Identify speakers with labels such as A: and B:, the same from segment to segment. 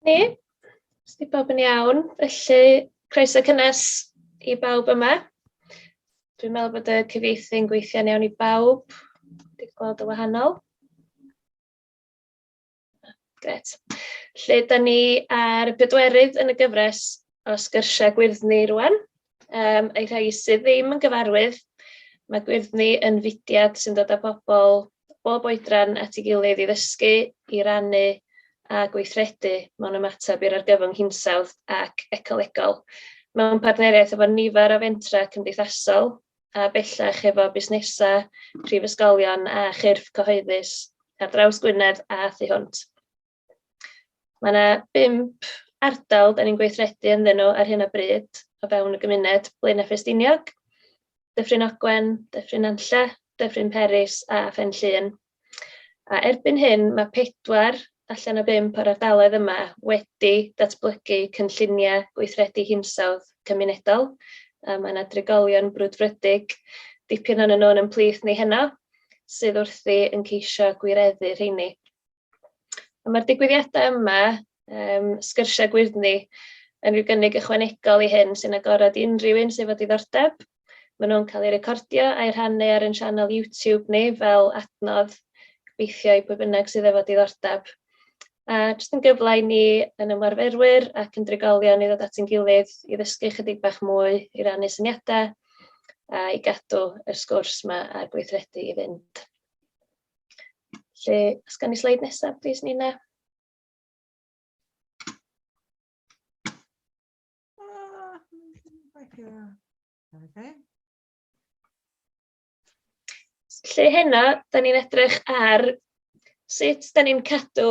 A: Ni, os di bawb yn iawn, felly croeso cynnes i bawb yma. Dwi'n meddwl bod y cyfieithu'n gweithio'n iawn i bawb. Dwi'n gweld y wahanol. Gret. Lle, da ni ar y pedwerydd yn y gyfres o sgyrsiau gwyrddni rwan. Yym, a'i rhai sydd ddim yn gyfarwydd, mae Gwyrddni yn fudiad sy'n dod â pobl bob oedran at ei gilydd i ddysgu, i rannu a gweithredu mewn ymateb i'r argyfwng hinsawdd ac ecolegol. Mewn partneriaeth efo nifer o fentrau cymdeithasol a bellach efo busnesau, prifysgolion a chyrff cyhoeddus ar draws Gwynedd a thu hwnt. Mae 'na bump ardal 'dan ni'n gweithredu ynddyn nhw ar hyn o bryd o fewn y gymuned, Blaenau Ffestiniog, Dyffryn Ogwen, Dyffryn Nantlle, Dyffryn Peris a Phen Llŷn. A erbyn hyn mae pedwar allan o bump o'r ardaloedd yma wedi datblygu cynlluniau gweithredu hinsawdd cymunedol. A mae yna drigolion brwdfrydig, dipyn o'n nhw'n yn plith ni heno, sydd wrthi yn ceisio gwireddu rheini. A mae'r digwyddiadau yma, yym, sgyrsiau gwyrddni, yn rhyw gynnig ychwanegol i hyn sy'n agored i unrhyw un sydd efo diddordeb. Maen nhw'n cael eu recordio a'i rhannu ar ein sianel YouTube ni fel adnodd gobeithio i pwy bynnag sydd efo diddordeb. A jyst yn gyfle i ni yn ymarferwyr ac yn drigolion i ddod at ein gilydd i ddysgu ychydig bach mwy, i rannu syniadau a i gadw yr sgwrs yma a'r gweithredu i fynd. Felly, os gawn ni sleid nesaf plis Nina. Okay. Lle hynna, da ni'n edrych ar sut da ni'n cadw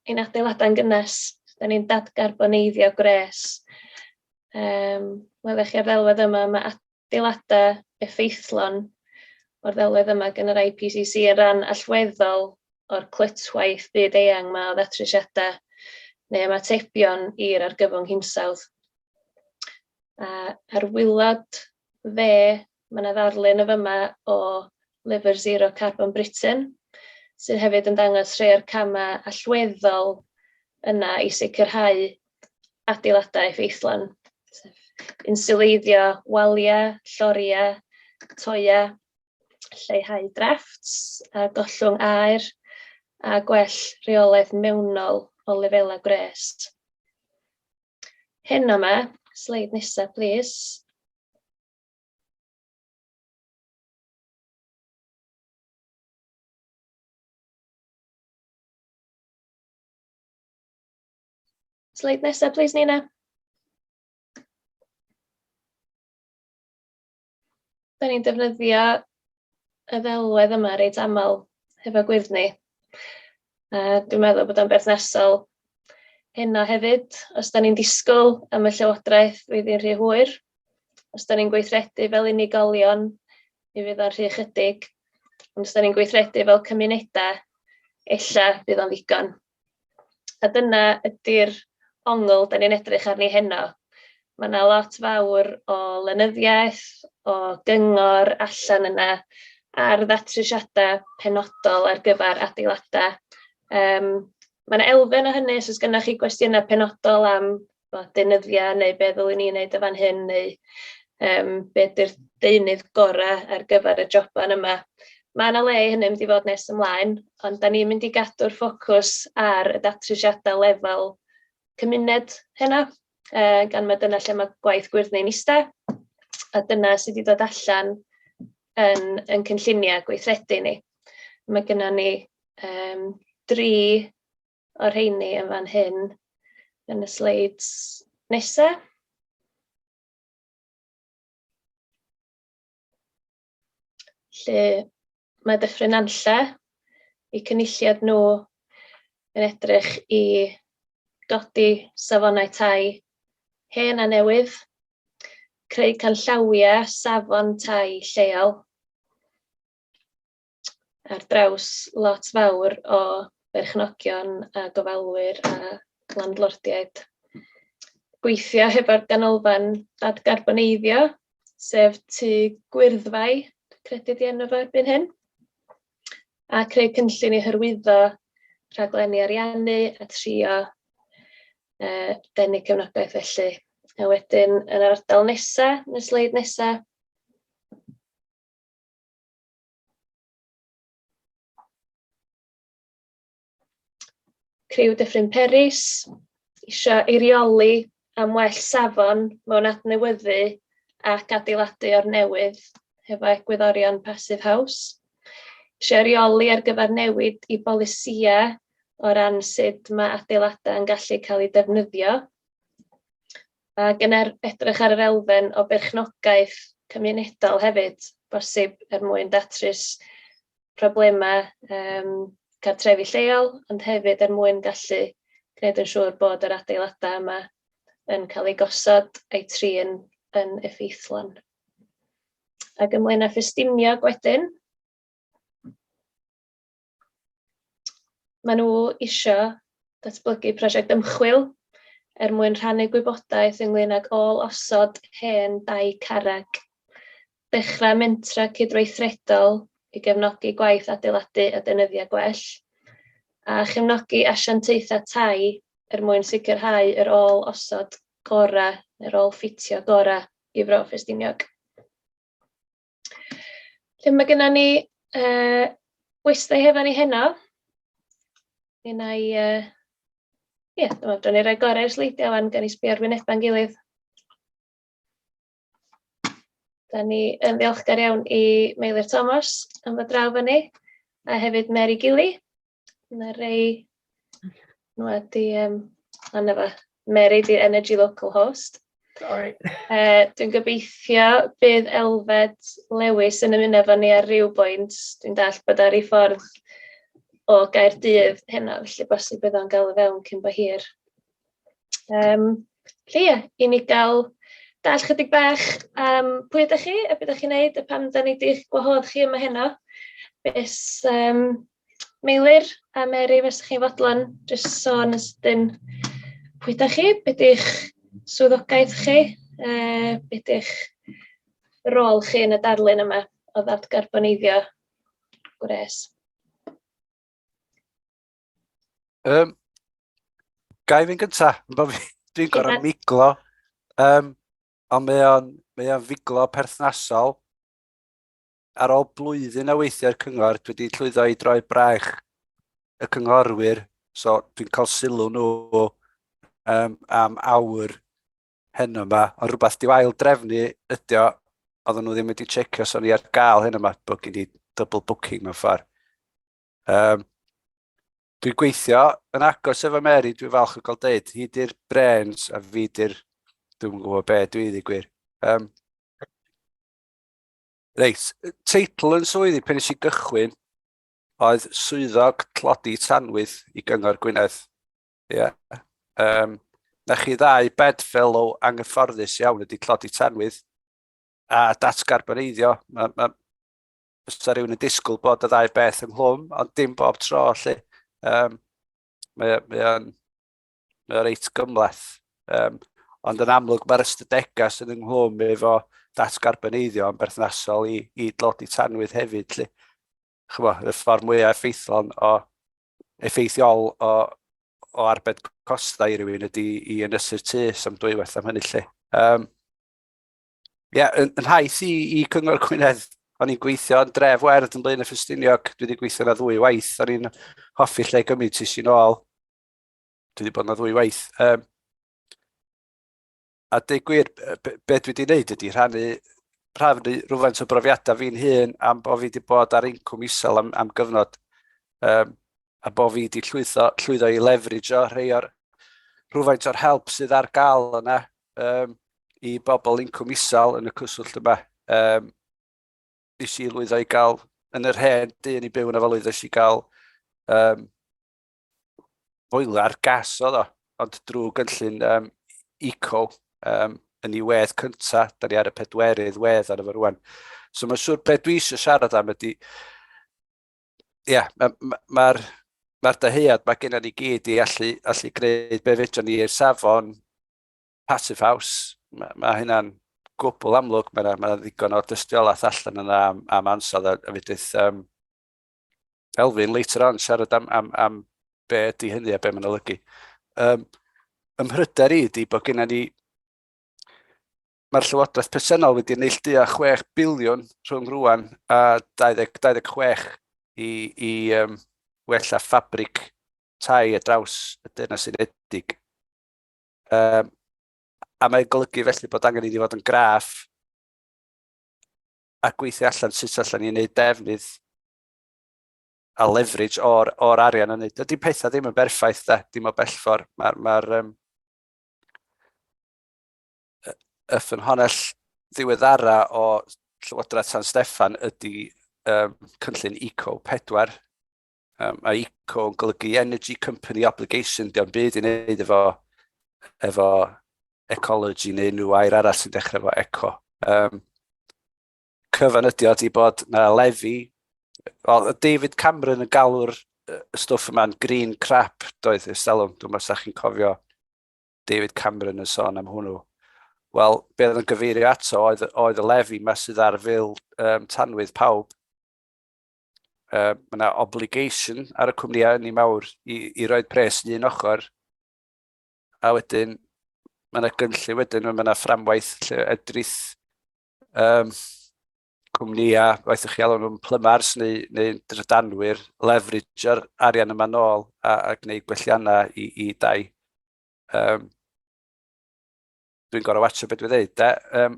A: ein adeiladau'n gynnes, da ni'n dadgarboneiddio gwres. Um, Welwch chi ar ddelwedd yma, mae adeiladau effeithlon o'r ddelwedd yma gan yr IPCC yn ran allweddol o'r clytwaith byd eang mae o ddatrysiadau neu ymatebion i'r argyfwng hinsawdd. A, ar wylod fe, mae yna ddarlun y fyma o lyfr Zero Carbon Britain, sydd hefyd yn dangos rhai o'r camau allweddol yna i sicrhau adeiladau effeithlon, sef insiwleiddio waliau, lloriau, toiau, lleihau drafts a gollwng aer, a gwell rheolaeth mewnol o lefelau gwres. Hyn yma, sleid nesaf, plis. Sleid nesaf, plis, Nina. Da ni'n defnyddio y ddelwedd yma reit aml hefo gwyrddni. Yy dwi'n meddwl bod o'n berthnasol heno hefyd, os dan ni'n disgwyl am y Llywodraeth flwyddyn rhy hwyr, os dan ni'n gweithredu fel unigolion mi fydd o'n rhy ychydig, ond os dan ni'n gweithredu fel cymunedau ella bydd o'n ddigon. A dyna ydy'r ongl dan ni'n edrych arni heno. Mae 'na lot fawr o lenyddiaeth, o gyngor allan yna ar ddatrysiadau penodol ar gyfer adeiladau. Yym mae 'na elfen o hynny os oes gennych chi gwestiynau penodol am tibod deunyddiau neu be ddylwn i wneud yn fan hyn neu yym be ydy'r deunydd gorau ar gyfer y joban yma. Mae 'na le i hynny mynd i fod nes ymlaen, ond dan ni'n mynd i gadw'r ffocws ar y datrysiadau lefel cymuned heno. yy, gan mai dyna lle mae gwaith gwyrdd neu'n iste, a dyna sy 'di dod allan yn ein cynlluniau gweithredu ni. Mae gynnon ni yym dri o'r rheini yn fan hyn yn y sleids nesa. lle mae Dyffryn Nantlle, eu cynulliad nhw yn edrych i godi safonau tai hen a newydd, creu canllawiau safon tai lleol ar draws lot fawr o berchnogion a gofalwyr a landlordiaid, gweithio hefo'r Ganolfan Dadgarboneiddio sef Tŷ Gwyrddfai, dwi'n credu 'di enw fo erbyn hyn, a creu cynllun i hyrwyddo rhaglenni ariannu a trio yy denu cefnogaeth felly. A wedyn yn yr ardal nesa, yn y sleid nesa, Criw Dyffryn Peris eisiau eirioli am well safon mewn adnewyddu ac adeiladu o'r newydd hefo egwyddorion Passive House. Eisiau eirioli ar gyfer newid i bolisïau o ran sut mae adeiladau yn gallu cael eu defnyddio. Ac yn er- edrych ar yr elfen o berchnogaeth cymunedol hefyd, bosib er mwyn datrys problemau yym cartrefi lleol, ond hefyd er mwyn gallu gwneud yn siŵr bod yr adeiladau yma yn cael eu gosod a'u trin yn effeithlon. Ac ymlaen â Ffestinio wedyn. Maen nhw isio datblygu prosiect ymchwil er mwyn rhannu gwybodaeth ynglyn ag ôl osod hen dai carreg. Dechrau mentra cydweithredol i gefnogi gwaith adeiladu a deunyddiau gwell, a chefnogi asiantaethau tai er mwyn sicrhau yr ôl osod gorau neu'r ôl ffitio gorau i Fro Ffestiniog. Felly mae gennym ni uh, westau hefo ni heno. Yn ei... Uh, Ie, yeah, dyma, dron i roi gorau'r sleidiau fan, gan i sbio'r wynebau'n gilydd. Da ni yn ddiolchgar iawn i Meilir Thomas am fod draw fyny, a hefyd Mary Gilly, Mae rei nhw wedi um, anna fe. Mary di Energy Local Host. Sorry. Uh, dwi'n gobeithio bydd Elfed Lewis yn ymuno efo ni ar ryw bwynt. Dwi'n dall bod ar ei ffordd o Gaerdydd heno, felly bosib bydd o'n gael y fewn cyn bo hir. Um, felly ie, i ni gael dall chydig bach um, pwy ydych chi, a beth ydych chi'n neud, a pam da ni di'ch gwahodd chi yma heno. Beth um, Meilir a Mary os ydych chi'n fodlon jyst sôn yn sydyn pwy ydych chi, be di'ch swyddogaeth chi, yy be di'ch rôl chi yn y darlun yma o ddadgarboneiddio gwres?
B: Um, Gai fi'n gynta? Dwi'n gorau miglo. Um, ond mae o'n mae o'n figlo perthnasol. ar ôl blwyddyn a weithiau'r cyngor, dwi wedi llwyddo i droi braich y cynghorwyr, so dwi'n cael sylw nhw um, am awr hyn yma, ond rhywbeth diw ail drefnu ydy o, oedden nhw ddim wedi checio so ni ar gael hyn yma, bod gen i double booking mewn ffordd. Um, dwi'n gweithio yn agos efo Mary, dwi'n falch o gael dweud, hi di'r brains a fi di'r, dwi'n gwybod be, dwi wedi gwir. Um, Reit, teitl yn swyddi pan nes i gychwyn oedd swyddog tlodi tanwydd i Gyngor Gwynedd. Ie. Yeah. Um, na chi ddau bedfellow anghyfforddus iawn ydy tlodi tanwydd a datgarboneiddio. Mae ma, bysa rhywun yn disgwyl bod y ddau beth ynghlwm, ond dim bob tro lle. Um, mae, mae o'n mae o reit gymleth. Um, ond yn amlwg mae'r ystadegau sydd yng nghlwm efo datgarboneiddio yn berthnasol i, i dlodi tanwydd hefyd. Lle. Chyfo, y ffordd mwyaf effeithlon o effeithiol o, o arbed costau i rywun ydy i ynysu'r tu sam dwywaith am hynny lle. Um, yeah, yn, yn haith i, i Cyngor Gwynedd, o'n i'n gweithio yn dref werdd yn Blaen y Ffestiniog, dwi wedi gweithio yna ddwy waith, o'n i'n hoffi lle gymryd tis i'n ôl. Dwi wedi bod yna ddwy waith. Um, a dweud gwir, be, be dwi wedi gwneud ydy rhannu rhafnu rhywfaint o brofiadau fi'n hun am bod fi wedi bod ar incwm isel am, am gyfnod um, a bod fi wedi llwyddo, llwyddo i leverage o rhai o'r rhywfaint o'r help sydd ar gael yna um, i bobl incwm isel yn y cwswllt yma. Um, nes i lwyddo i gael yn yr hen dyn i byw yn y falwyddes i gael um, foelar gas oedd o, ond drwy gynllun um, eco um, yn ei wedd cynta, da ni ar y pedwerydd wedd ar efo rwan. So mae'n siŵr beth dwi eisiau siarad am ydy, ie, yeah, mae'r ma, ma, ma, ma dyhead mae gennym ni gyd i allu, allu gwneud be fedrwn ni i'r safon passive house. Mae ma hynna'n gwbl amlwg, mae yna ma ddigon o dystiolaeth allan yna am, am ansawdd a, a fedrith um, Elfyn later on siarad am, am, am be ydy hynny a be mae'n olygu. Um, ymhryder i ydy bod gennym ni Mae'r Llywodraeth presennol wedi neillduo 6 biliwn rhwng rwan a 20, 26 i, i um, wella ffabrig tai a draws y Deyrnas Unedig. Um, a mae'n golygu felly bod angen i ni fod yn graff a gweithio allan sut allan ni'n neud defnydd a leverage o'r, or arian yn neud. Dydy pethau ddim yn berffaith da, dim o bellfor. Mae'r ma, um, y ffynhonell ddiweddara o Llywodraeth San Steffan ydy um, cynllun Eco 4, Um, mae ICO yn golygu Energy Company Obligation, diolch yn byd i wneud efo, efo ecology neu unrhyw air arall sy'n dechrau efo eco. Um, cyfan ydi o di bod na lefi, well, David Cameron yn galw'r y stwff yma'n green crap, doedd y stelwm, dwi'n meddwl chi'n cofio David Cameron yn sôn am hwnnw. Wel, be oedd yn gyfeirio ato oedd, oedd y lefi yma sydd ar fil um, tanwydd pawb uh, mae yna obligation ar y cwmnïau ni mawr i, i roed pres yn un ochr, a wedyn mae yna gynllun wedyn, mae yna fframwaith lle edrych um, cwmnïau, waith chi alw nhw'n plymars neu, neu drydanwyr, leverage o'r arian yma nôl a, a gwneud gwelliannau i, i dau. Um, Dwi'n gorau watcha beth dwi'n dweud. Um,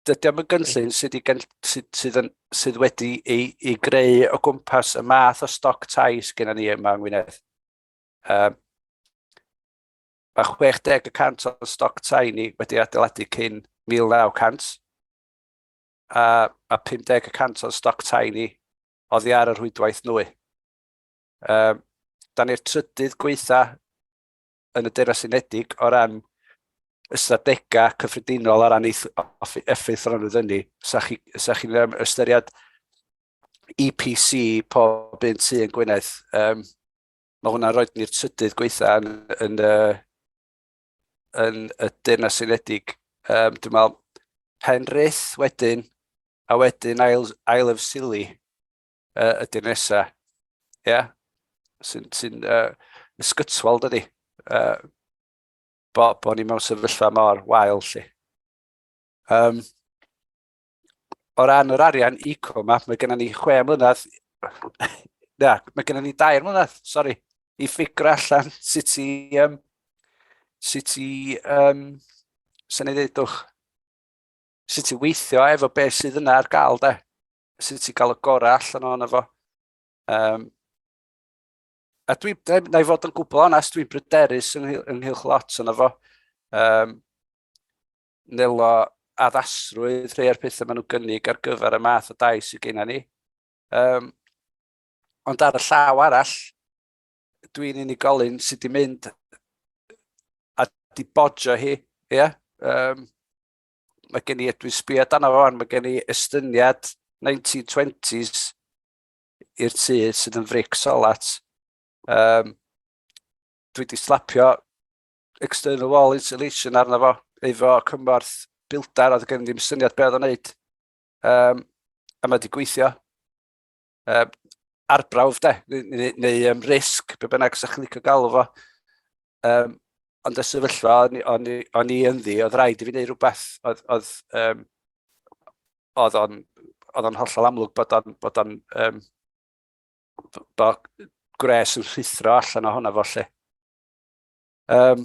B: dydy am y gynllun sydd, gen, sydd, sydd, yn, sydd wedi ei, ei greu o gwmpas y math o stoc tai sydd gennym ni yma yng Ngwynedd. Um, mae 60 y cant o'n stoc tai ni wedi adeiladu cyn 1900, a mae 50 y cant o'n stoc tai ni oddi ar y rhwydwaith nwy. Um, da ni'r trydydd gweitha yn y Deyrnas Unedig o ran ystadegau cyffredinol o ran effeithronrwydd ynni. Sa chi'n chi ystyried EPC pob un tu yn Gwynedd, um, mae hwnna'n rhoi ni'r trydydd gweitha yn, yn, yn, yn y Deyrnas Unedig. Um, dwi'n meddwl, Penrith wedyn, a wedyn ail, ail of Sili. uh, y dinesa, ie, yeah? sy'n sy uh, ysgytwol dydy, uh, bo, bo ni mewn sefyllfa mor wael lle. Um, o ran yr arian eco yma, mae gennym ni chwe mlynedd, na, mae gennym ni dair mlynedd, sori, i ffigur allan sut i, um, sut i, um, sy'n ei ddeudwch, sut i weithio efo beth sydd yna ar gael, de. sut i gael y gorau allan o'n efo. Um, a dwi, na i fod yn gwbl onest, dwi'n bryderus yn, ynghylch lot o'n efo. Um, nelo addasrwydd rhai o'r pethau maen nhw'n gynnig ar gyfer y math o dais sydd gennym ni. Um, ond ar y llaw arall, dwi'n unigolyn sydd wedi mynd a di bodjo hi, ie? Yeah? Um, mae gen i, dwi'n sbio dan o fan, mae gen i estyniad 1920s i'r tu sydd yn fric solat. Um, dwi wedi slapio external wall insulation arno fo, efo cymorth bildar, oedd gen ddim syniad beth oedd o'n neud. Um, a mae wedi gweithio. um, arbrawf de, neu, neu um, risg, be bynnag sa'ch chi'n licio galw fo. Um, ond y sefyllfa o'n, o'n, o'n i ynddi, oedd rhaid i fi wneud rhywbeth, oedd, oedd, um, oedd o'n oedd o'n hollol amlwg bod o'n bod o'n um, bod gwres yn rhithro allan o hwnna fo lle. Um,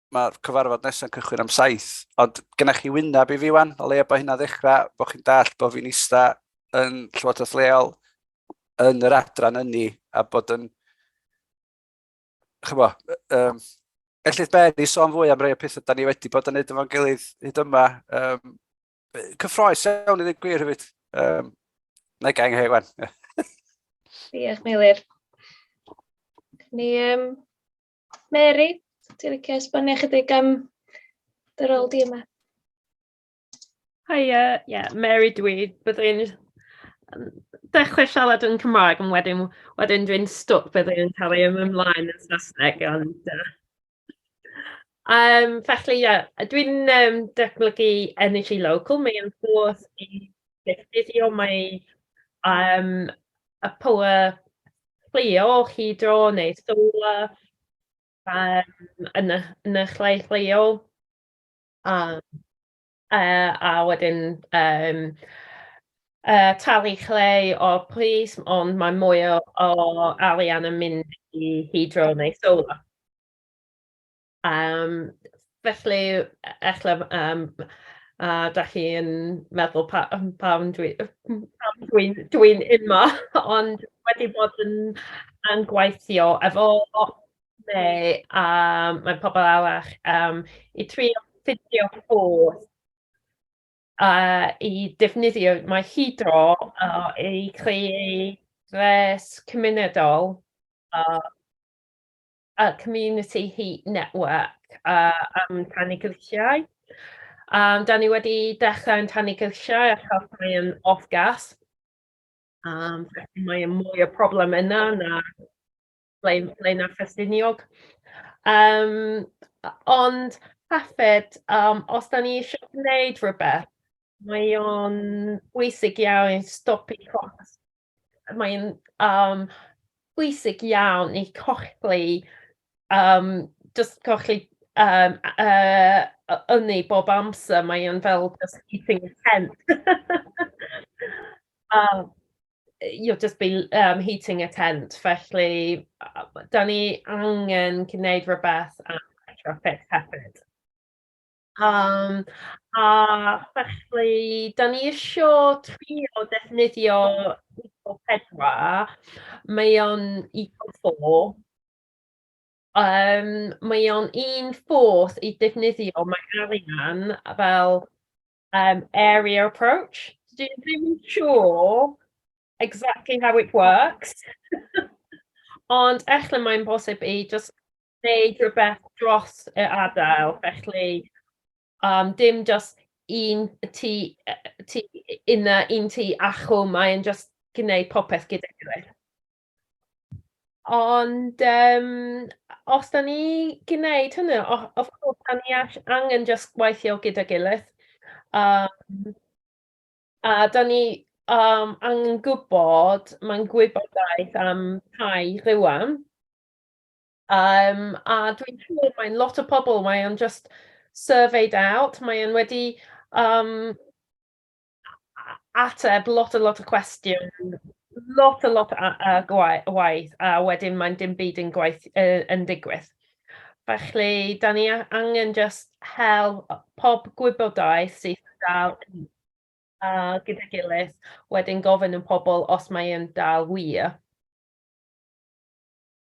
B: mae'r cyfarfod nesau'n cychwyn am saith, ond gynnech chi wyneb i fi wan, o leia bod hynna ddechrau, bod chi'n dall bod fi'n eista yn Llywodraeth Leol, yn yr adran ynni, a bod yn, chyfo, um, ellith Mary sôn fwy am rei o pethau da ni wedi bod yn neud efo'n gilydd hyd yma. Um, cyffroes iawn i ddim gwir hefyd. Um, na i gael heg wan. Diolch,
A: Meilir. Ni, um, Mary, ti'n licio esbonio chydig am dy rôl di yma? Hiya, uh,
C: yeah, Mary dwi. Byddai'n dechrau siarad yn Cymraeg, ond wedyn, wedyn dwi'n stwc byddai'n cael ei ymlaen yn Saesneg. Ond, uh, um, felly, yeah, dwi'n um, datblygu energy local. Mae'n ffordd i ddefnyddio mae um, y power Cleo chi dro neu solar yym yn y yn y lle lleol a yy a wedyn yym yy talu lle o pris ond mae mwy o o arian yn mynd i hydro neu solar. Yym, felly, e- ella b- yym, a dach chi'n meddwl pa- yym pam dwi yy m- pam dwi'n dwi'n yma, ond wedi bod yn yn gweithio efo Mei a mae pobl arall yym i trio ffeindio ffordd a i defnyddio mae Hidro a i creu ddes cymunedol a... y Community Heat Network uh, am tannu grisiau. Um, da ni wedi dechrau yn tannu grisiau a cael rhai yn off-gas. Um, felly mae mwy o problem yna na ble, ble na Ffestiniog. Um, ond hefyd, um, os da ni eisiau gwneud rhywbeth, mae o'n bwysig iawn i stopi cost mae'n um, bwysig iawn i cochlu, um, just cochlu um, uh, ynni bob amser, mae'n fel just eating a tent. um, you'll just be um, heating a tent, felly da ni angen gwneud rhywbeth am retrofit hefyd. Yym, a felly, 'dan ni isio trio defnyddio Eco pedwar, mae o'n Eco four, yym mae o'n un fodd i defnyddio mae arian fel yym area approach, dwi ddim yn siŵr exactly how it works ond ella mae'n bosib i jyst wneud rhywbeth dros y adael, felly um, dim just un ti, ti yna, un ti achw, mae'n just gwneud popeth gyda gilydd. Ond um, os da ni gwneud hynny, of course, da ni angen just gweithio gyda gilydd. Um, a da ni um, angen gwybod, mae'n gwybodaeth am tai rhywun, A yym a dwi'n siŵr mae lot o pobl, mae o'n jyst surveyed out, mae e'n wedi yym a- ateb lot a lot o cwestiwn, lot a lot a- a- gwa- o waith, a wedyn mae'n dim byd yn gwaith- yy yn digwydd. Felly, 'dan ni a- angen jyst hel yy pob gwybodaeth sydd yn dal yn a gyda'i gilydd, wedyn gofyn yn pobl os mae e'n dal wir.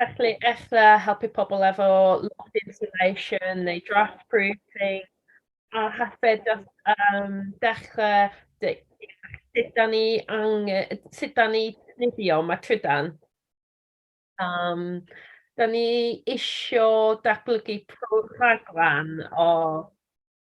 C: Felly, ella helpu pobl efo loft insulation neu draft proofing, a hefyd um, dechrau sut da ni, ang, sut da ni nifio mae trydan. Um, da ni isio datblygu rhaglen o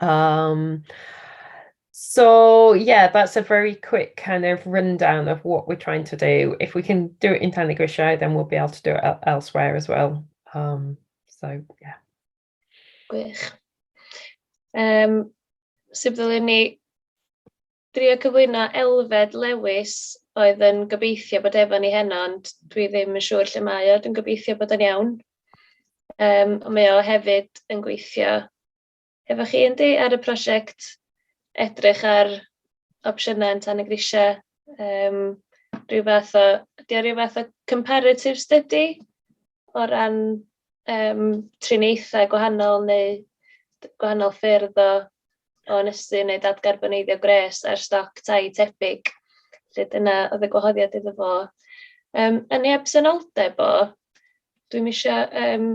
C: Um, so yeah, that's a very quick kind of rundown of what we're trying to do. If we can do it in Tan y Grisiau, then we'll be able to do it elsewhere as well. Um, so yeah.
A: Gwych. Um, sut ddylwn ni drio cyflwyno Elfed Lewis oedd yn gobeithio bod efo ni heno, ond dwi ddim yn siŵr lle mae o, dwi'n gobeithio bod o'n iawn. Um, mae o hefyd yn gweithio Efo chi yndi, ar y prosiect edrych ar opsiynau yn Tan y Grisiau, yym ryw fath o... ydy o ryw fath o comparative study o ran yym triniaethau gwahanol neu d- gwahanol ffyrdd o o ynysu neu dadgarboneiddio gwres ar stoc tai tebyg, felly dyna oedd y gwahoddiad iddo fo. Yym yn ei absenoldeb o, dwi'm isio yym...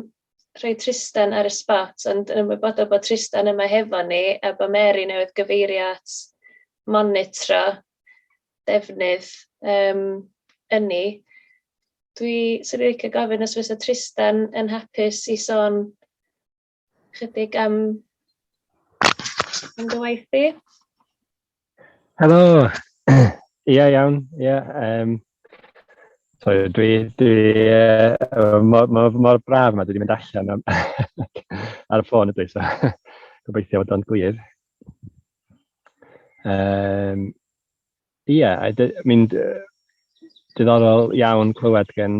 A: rhoi Trystan ar y sbot, ond yn ymwybodol bod Trystan yma hefo ni a bod Mary newydd gyfeirio at monitro defnydd um, ynni. Dwi sy'n rhaid cael gofyn os fysa Trystan yn hapus i sôn chydig am, am dy waith di. Helo!
D: Ia, iawn, ia. Um, so, dwi, dwi uh, mor, mor, mor braf yma, dwi wedi mynd allan am, ar y ffôn ydw i, so gobeithio bod o'n glir. Um, ia, mi'n diddorol iawn clywed gen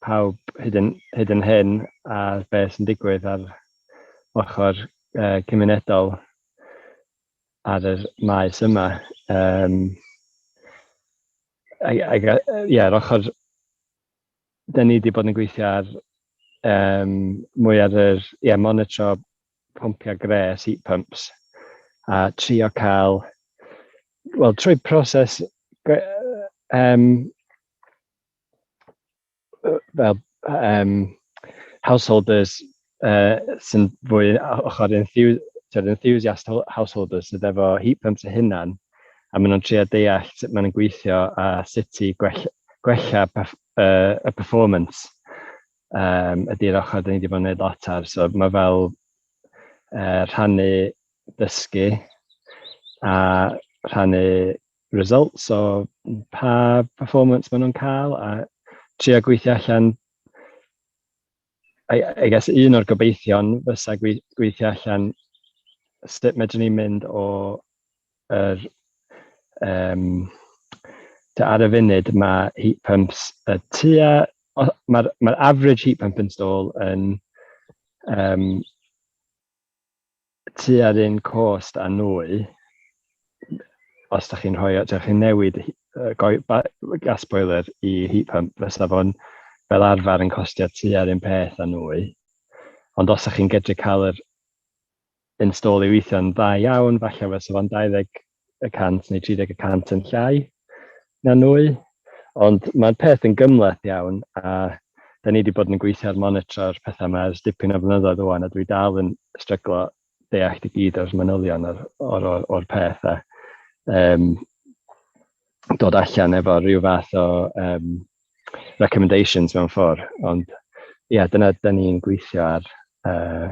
D: pawb hyd yn, hyd yn hyn ar beth sy'n digwydd ar ochr uh, cymunedol ar yr maes yma. Um, I, I, yeah, yr ochr... Da ni wedi bod yn gweithio ar um, mwy ar yr... Yeah, monitro pwmpiau gres, heat pumps, a trio cael... Wel, trwy proses um, fel yym householders yy sy'n fwy o ochr enthu- tibod enthusiast ho- householders sydd efo heat pumps eu hunain a maen nhw'n trio deall sut maen nhw'n gweithio a sut i gwell- gwella perff- yy y performance yym ydy'r ochr 'da ni 'di bod yn wneud lot ar, so ma' fel yy rhannu dysgu a rhannu results o pa performance maen nhw'n cael a trio gweithio allan I, I guess un o'r gobeithion fysa gweithio allan sut medrwn ni mynd o yr um, ta ar y funud mae heat pumps y tua mae'r mae average heat pump install yn um, tua'r un cost a nwy, os da chi'n rhoi, da chi'n newid gas boiler i heat pump, fysa fo'n fel arfer yn costio tua'r un peth a nwy. Ond os da chi'n gydru cael yr install i weithio'n dda iawn, falle fysa fo'n 20 y cant neu 30 y cant yn llai na nwy. Ond mae'r peth yn gymleth iawn a da ni wedi bod yn gweithio ar monitro'r pethau yma ers dipyn o flynyddoedd o'n a dwi dal yn stryglo deall i gyd o'r manylion o'r, or, or, or peth a um, dod allan efo rhyw fath o um, recommendations mewn ffordd. Ond ie, yeah, dyna da ni'n gweithio ar uh,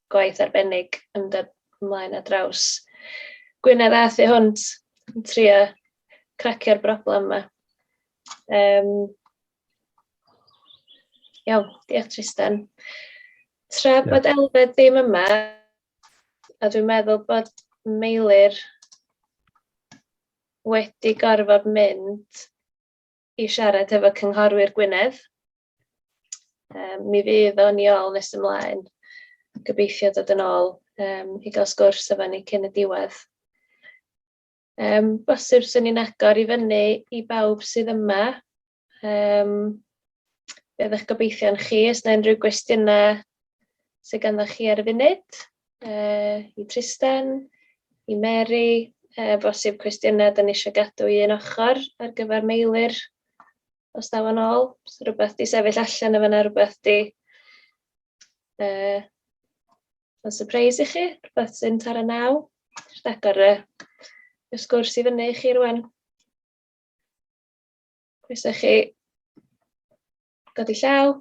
A: gwaith arbennig yn dod ymlaen ar draws Gwynedd a thu hwnt yn trio cracio'r broblem yma. Um, iawn, diolch Tristan. Tra bod Elfed ddim yma, a dwi'n meddwl bod Meilir wedi gorfod mynd i siarad efo cynghorwyr Gwynedd. Um, mi fydd o'n i ôl nes ymlaen. Gobeithio dod yn ôl um, i gael sgwrs efo ni cyn y diwedd. Um, bosib swn i'n agor i fyny i bawb sydd yma. Um, be ydych gobeithio'n chi, os yna unrhyw gwestiynau sydd ganddo chi ar y funud, uh, i Tristan, i Mary, uh, bosib cwestiynau dyn ni eisiau gadw i un ochr ar gyfer meilir. os daw yn ôl, rhywbeth di sefyll allan efo yna, rhywbeth di uh, yn surprise i chi, rhywbeth sy'n tar y naw. Jyst agor y, y sgwrs i fyny i chi rwan. Croeso chi godi llaw.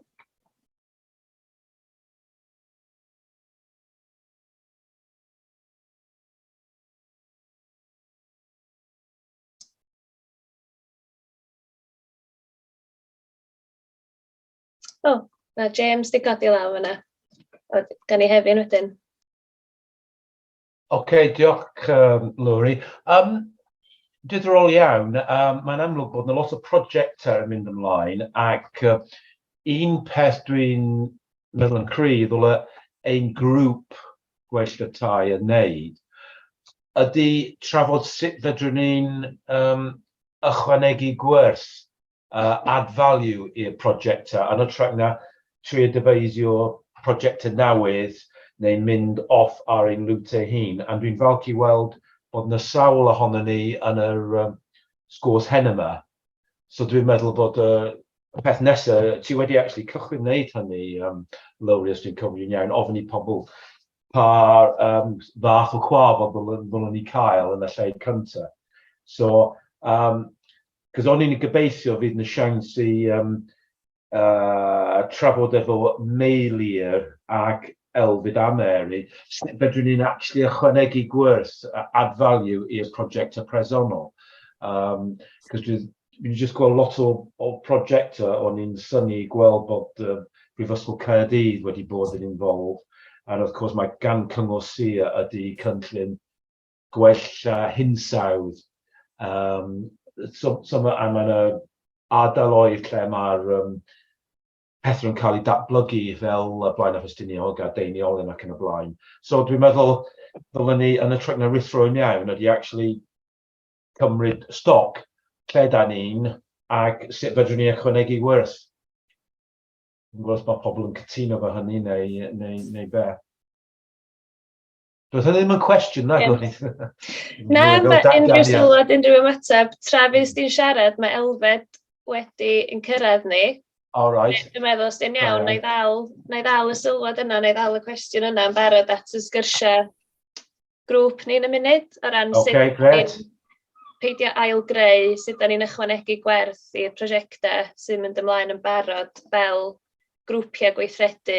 A: O, ma' James 'di codi law fan'na. O, gawn ni Hefin wedyn. Ocê,
E: diolch um, Lowri. Um, diddorol iawn, um, mae'n amlwg bod yna lot o prosiectau yn mynd ymlaen ac uh, un peth dwi'n meddwl yn cryf, ddyle ein grŵp gwell y tai yn neud ydi trafod sut fedrwn ni'n yym ychwanegu gwerth, yy add value, i'r projecta yn ytrach na trio dyfeisio projecta newydd neu mynd off ar ein route ei hun, and dwi'n falch i weld bod 'na sawl ohonon ni yn yr yym sgwrs heno 'ma, so dwi'n meddwl bod y Y peth nesa, ti wedi actually cychwyn wneud hynny, um, Lowri, os dwi'n cofio'n iawn, ofyn i pobl pa um, fath o cwaf oedd ddylwn ni cael yn y lle cyntaf. So, um, cos o'n i'n gobeithio fydd na siawns i um, uh, trafod efo Meilir ac Elfyd a Mary, sut fedrwn ni'n actually ychwanegu gwrs add value i'r prosiect y presennol. Um, cos dwi Dwi 'di jyst gweld lot o o prosiectau o'n i'n synnu i gweld bod yy Prifysgol Caerdydd wedi bod yn involved and of course mae gan Cyngor Sir ydi cynllun gwella hinsawdd yym so so ma' a ma' 'na ardaloedd lle ma'r yym pethau yn cael eu datblygu fel yy Blaenau Ffestiniog a Deiniolen ac yn y blaen so dwi'n meddwl ddylen ni yn hytrach na rhuthro i mewn ydi actually cymryd stoc lle da ni'n ac sut fedrwn ni ychwanegu wrth. Yn gwybod os mae pobl yn cytuno fo hynny neu, neu, neu be. Doedd hynny ddim yn cwestiwn, na, Gwyneth? Na, mae
A: unrhyw sylwad, unrhyw ymateb. Tra fys di'n siarad, mae Elfed wedi yn cyrraedd ni. All right. Dwi'n
E: meddwl, os di'n iawn,
A: na i ddal, na i ddal y sylwad yna, na i ddal y cwestiwn yna yn barod at y sgyrsiau grŵp ni yn y munud o ran sut... Ocê, grêt. ...peidio ail-greu, sut dan ni'n ychwanegu gwerth i'r prosiectau sy'n mynd ymlaen yn barod fel grwpiau gweithredu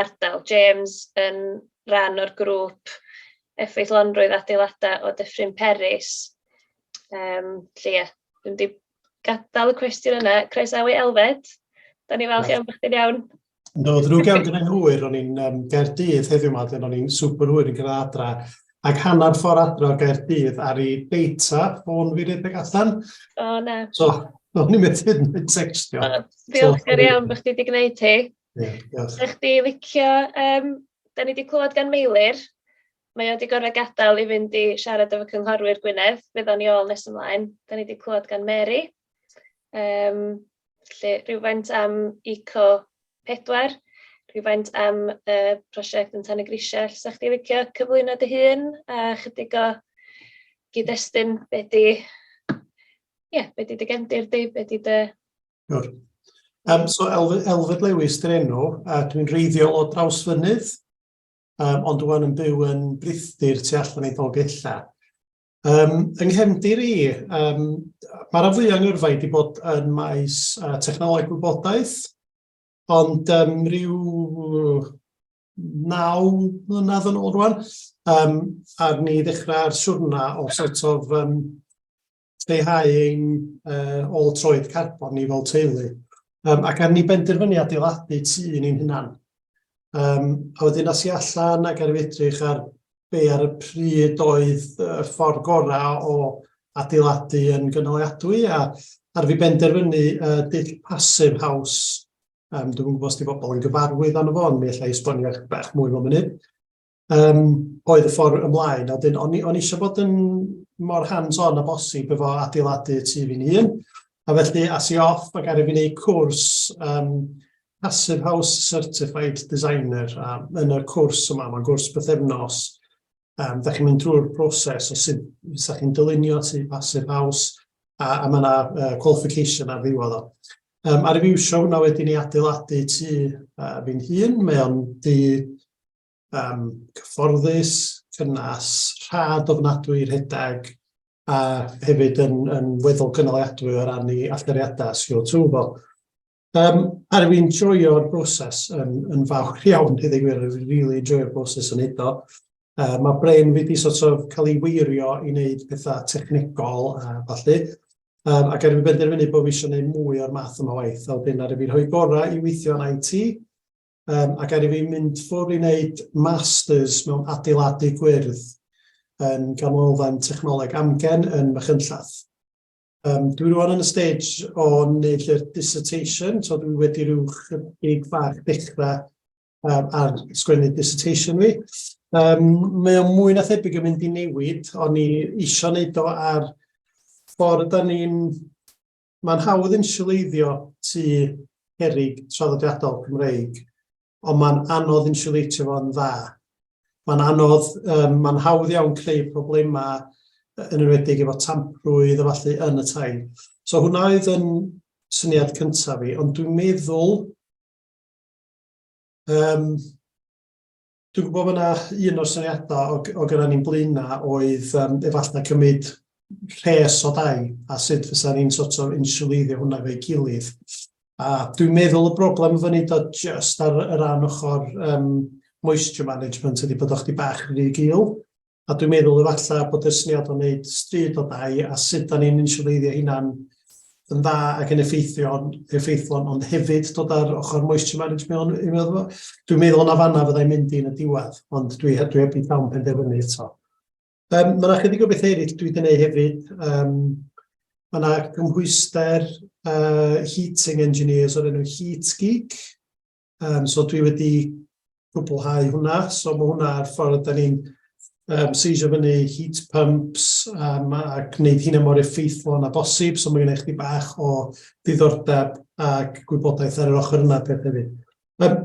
A: ardal. James yn rhan o'r grŵp effeithlonrwydd adeiladau o Dyffryn Peris. Yym, 'lly ie, dwi'm 'di gadael y cwestiwn yna. Croesawu Elfed. Da ni'n falch iawn bod chdi'n iawn. No, ddrwg iawn
F: gyda'n hwyr, ro'n i'n um, Gaerdydd heddiw yma, ro'n i'n super hwyr yn gyda adra, ac hanner ffordd adra o Gaerdydd ar ei deita, ffôn fi redeg allan. O, oh, na. So, no, ni'n mynd hyn yn textio. Oh, diolch so, iawn
A: bod chdi wedi gwneud hi. Yeah, diolch. Ydych chi licio, um, da ni wedi clywed gan Meilir, Mae o 'di gorfod gadael i fynd i siarad efo cynghorwyr Gwynedd, fydd o'n i ôl nes ymlaen. Dan ni 'di clywed gan Mary, yym felly rywfaint am Eco pedwar, rhywfaint am y prosiect yn Tan y Grisiau. 'Sech chdi'n licio cyflwyno dy hun a chydig o gyd-destun be 'di ie be 'di dy gefndir di, be 'di dy... Siwr.
F: Um, so Elfed, Elfed Lewis dyn enw, a dwi'n reiddiol o Drawsfynydd, um, ond dwi'n yn byw yn brithyr tu allan i Dolgella. Um, yng nghefndir i, um, mae'r afwy yng Ngyrfa wedi bod yn maes uh, technoleg gwybodaeth, ond um, rhyw naw mlynedd yn ôl rwan, um, a ni ddechrau'r siwrna o sort of um, lleihau ein uh, ôl troed carbon ni fel teulu. Um, ac ar ni benderfynu adeiladu tu ni'n hynna'n. Um, a wedyn as i allan ac ar edrych ar be ar y pryd oedd y ffordd gorau o adeiladu yn gynaliadwy a ar fi benderfynu uh, dull pasif haws Um, dwi'n gwybod os di bobl yn gyfarwydd â fo, ond mi allai esbonio bach mwy fel munud. yym oedd y ffordd ymlaen. A wedyn o'n i o'n i eisiau bod yn mor hands-on â bosib efo adeiladu tu fi'n hun, a felly as i off ac aru fi wneud cwrs yym Passive House Certified Designer a yn y cwrs yma, mae'n gwrs bythefnos, yym dach chi'n mynd drwy'r broses o sut fysa chi'n dylunio tŷ Passive House a a ma' 'na yy qualification ar ddiwedd o. Yym aru fi iwsio hwnna wedyn i adeiladu tŷ yy fi'n hun, mae o'n dŷ um, cyfforddus, cynnas, rhad ofnadwy, rhedeg, a hefyd yn, yn weddol gynaliadwy o ran ei allariadau CO2 fo. Um, a rwy'n i'n joio'r broses yn, yn fawr iawn, hyd ei gwir, rwy'n really joio'r broses yn edo. Uh, mae brain wedi sort of cael ei weirio i wneud pethau technegol a falle, um, ac erbyn benderfynu bod fi eisiau gwneud mwy o'r math yma waith, a wedyn ar y fi'n rhoi gorau i weithio yn IT, um, ac er i fi mynd ffwrdd i wneud masters mewn adeiladu gwyrdd yn ganolfan technoleg amgen yn Machynllath. Um, dwi rwan yn y stage o wneud lle'r dissertation, so dwi wedi rhyw chydig fach dechrau um, ar sgwennu dissertation fi. Um, mae o'n mwy na thebyg yn mynd i newid, o'n i eisiau wneud o ar ffordd da ni'n Mae'n hawdd insiwleiddio tŷ cerrig traddodiadol Cymreig, ond mae'n anodd insiwleitio fo'n dda. Mae'n anodd, um, mae'n hawdd iawn creu problemau yn enwedig efo tamprwydd a falle yn y tai. So hwnna oedd yn syniad cyntaf fi, ond dwi'n meddwl um, Dwi'n gwybod bod yna un o'r syniadau o, o gyda ni'n blaena oedd um, efallai cymryd rhes o dau a sut fysa ni'n sort of insuleiddio hwnna fe'i gilydd. A dwi'n meddwl y broblem fyny do just ar y ran ochr um, moisture management ydy bod o'ch di bach rhy gil. A dwi'n meddwl efalla bod y syniad o wneud stryd o dai a sut da ni'n insiwleiddio hynna'n yn dda ac yn effeithiol, effeithlon, ond hefyd dod ar ochr moisture management i mewn fo. Dwi'n meddwl yna fanna fyddai'n mynd i'n y diwedd, ond dwi, dwi heb i llawn penderfynu eto. Um, mae yna chydig o bethau eraill dwi wedi gwneud hefyd. Um, mae yna gymhwyster uh, heating engineers o'r enw Heat Geek, Um, so dwi wedi gwblhau hwnna, so mae hwnna ar ffordd, da ni'n um, seisio fyny heat pumps um, a gwneud hynna mor effeithlon a bosib, so mae gen i chdi bach o ddiddordeb ac gwybodaeth ar yr ochr yna peth hefyd. Um,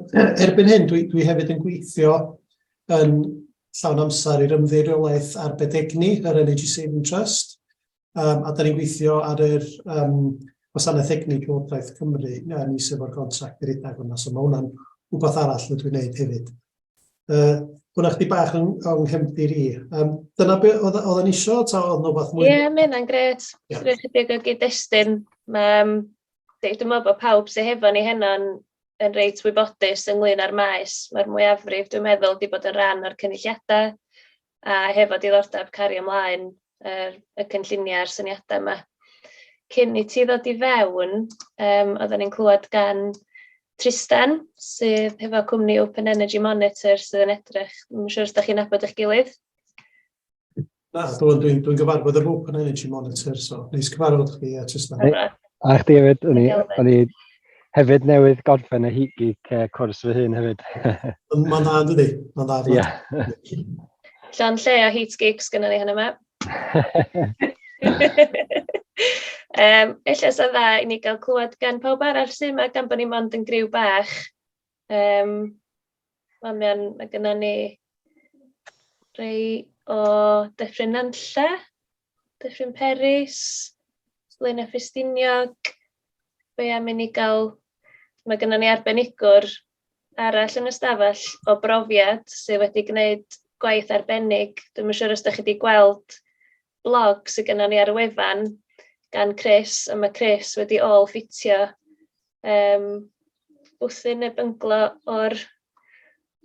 F: erbyn hyn, dwi, dwi hefyd yn gweithio yn llawn amser i'r ymddeiriolaeth arbed egni, yr Energy Saving Trust, um, a da ni'n gweithio ar yr um, gwasanaeth egnig Llywodraeth Cymru uh, ni sef o'r gontract i redag hwnna, so mae hwnna'n rhywbeth arall rydw i'n gwneud hefyd. Uh, hwnna chdi bach yn, yng nghefndir i. Um, dyna be oedd yn isio, ta oedd nhw fath mwy? Ie, yeah, mae hynna'n gret.
A: Yeah. Rwy'n chydig o gyd-destun. Um, Dwi'n meddwl bod pawb sy'n hefo ni heno'n yn reit wybodus ynglyn â'r maes. Mae'r mwyafrif, dwi'n meddwl, wedi bod yn rhan o'r cynulliadau a hefo diddordeb cario ymlaen yr y cynlluniau a'r syniadau 'ma. Cyn i ti ddod i fewn, yym, oedden ni'n clywed gan Tristen, sydd hefo cwmni Open Energy Monitor sydd yn edrych, ddim yn siŵr os da chi'n nabod eich gilydd?
F: Na, dwi'n dwi, dwi gyfarfod yr Open Energy Monitor, so neis cyfarfod chdi a Tristen. A chdi hefyd,
D: o'n i, Hefyd newydd gorffen y Heat Geek uh, cwrs fy hun hefyd. Mae'n dda,
F: dydy? Mae'n dda. Ie.
D: Llan lle
A: a Heat Geeks gyda ni hynny yma. um, Ella sy'n dda i ni gael clywed gan pawb arall sy'n yma gan bod ni mond yn griw bach. Um, Mae'n mynd, mae gyda ni rei o Dyffryn Nantlle. Dyffryn Peris, Blaenau Ffestiniog, be am i ni gael... Mae gennym ni arbenigwr arall yn y stafell o brofiad sydd wedi gwneud gwaith arbennig. Dwi'm yn siŵr os dach chi 'di gweld blog sydd gennym ni ar y wefan gan Chris, a mae Chris wedi ôl-ffitio yym bwthyn neu bynglo o'r...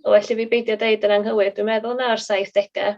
A: o well i fi beidio deud yn anghywir, dwi'n meddwl na o'r saithdegau.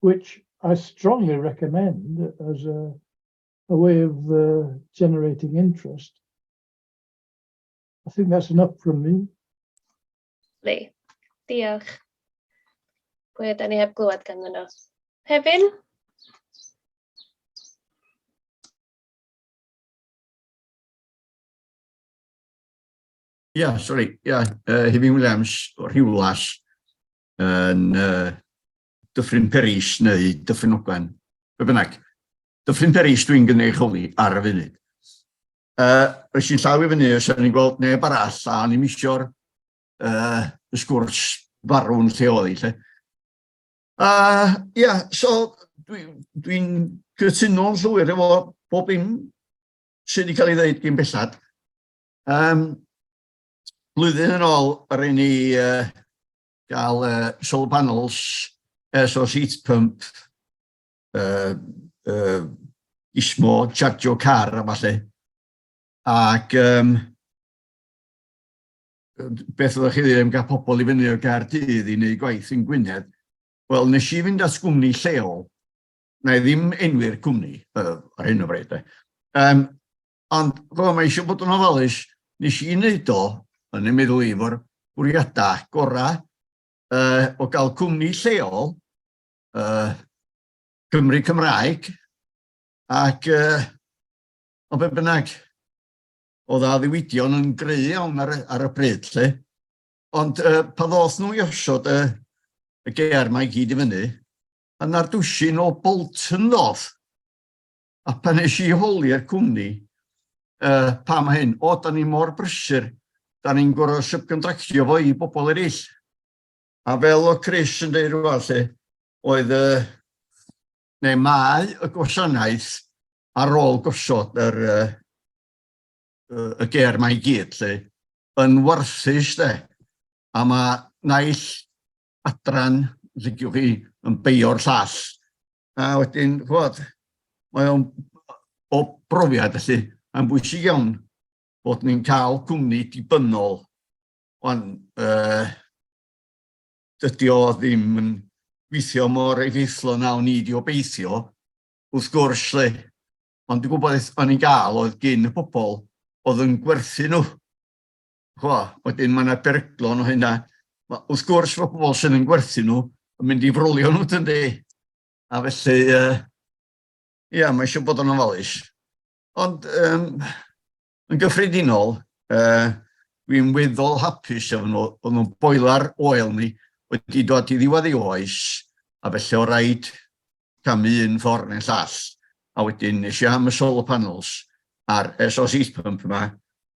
G: which I strongly recommend as a, a way of uh, generating interest. I think that's enough from me.
A: Lee, diolch. Pwy ydy ni heb glywed ganddyn nhw? Hefin?
H: yeah, sorry, yeah, uh, Hefin Williams, Rhiwlas, yn uh, Dyffryn Peris neu Dyffryn Ogwen, be bynnag. Dyffryn Peris dwi'n gynnig holi ar y funud. Uh, Rwy'n sy'n llaw i fyny, os ydyn ni'n gweld neb arall, a o'n i'n misio'r uh, sgwrs farw'n lle oedd i, lle. Uh, yeah, so dwi'n dwi, dwi cytuno'n llwyr efo bob un sydd wedi cael ei ddeud gyn bellad. Um, blwyddyn yn ôl, rhaid ni uh, gael uh, solar panels air source heat pump, uh, uh, ismo, chargio car a falle. Ac um, beth oeddech chi ddim gael pobl i fyny o Gaerdydd i wneud gwaith yn Gwynedd. Wel, nes i fynd at gwmni lleol, na i ddim enwi'r cwmni uh, ar hyn o bryd. Um, Ond, fel mae eisiau bod yn ofalus, nes i wneud o, yn ei meddwl i, fo'r bwriadau gorau uh, o gael cwmni lleol, uh, Cymru Cymraeg, ac uh, o be bynnag, o dda ddiwydion yn greu iawn ar, ar y bryd lle. Ond uh, pa ddoth nhw i osod uh, y ger mae gyd i fyny, yna'r dwsin o Bolton ddoth. A pan nes i holi'r cwmni, uh, pa mae hyn? O, da ni mor brysur, da ni'n gorau subcontractio fo i bobl eraill. A fel o Chris yn dweud rhywbeth lle, oedd y, neu mae y gwasanaeth ar ôl gosod yr, uh, y ger mae i gyd lle, yn warthus de. A mae naill adran sy'n diwch chi yn beio'r llall. A wedyn, chwod, mae o'n o brofiad felly, mae'n bwysig iawn bod ni'n cael cwmni dibynnol. Ond uh, dydy o ddim yn gweithio mor effeithlon nawn ni di obeithio, wrth gwrs lle. Ond dwi'n gwybod beth o'n i'n gael oedd gyn y pobl oedd yn gwerthu nhw. Chwa, wedyn mae yna beryglon o hynna. Mae, wrth gwrs, mae pobl sydd yn gwerthu nhw yn mynd i frolio nhw, dyn di. A felly, ia, uh, yeah, mae eisiau bod yn ofalus. Ond, um, yn gyffredinol, uh, dwi'n weddol hapus efo nhw, o'n nhw'n boilar oel ni wedi dod i ddiwedd ei oes, a felly o raid camu un ffordd neu'n llall. A wedyn, nes i am y solar panels a'r SOC pump yma,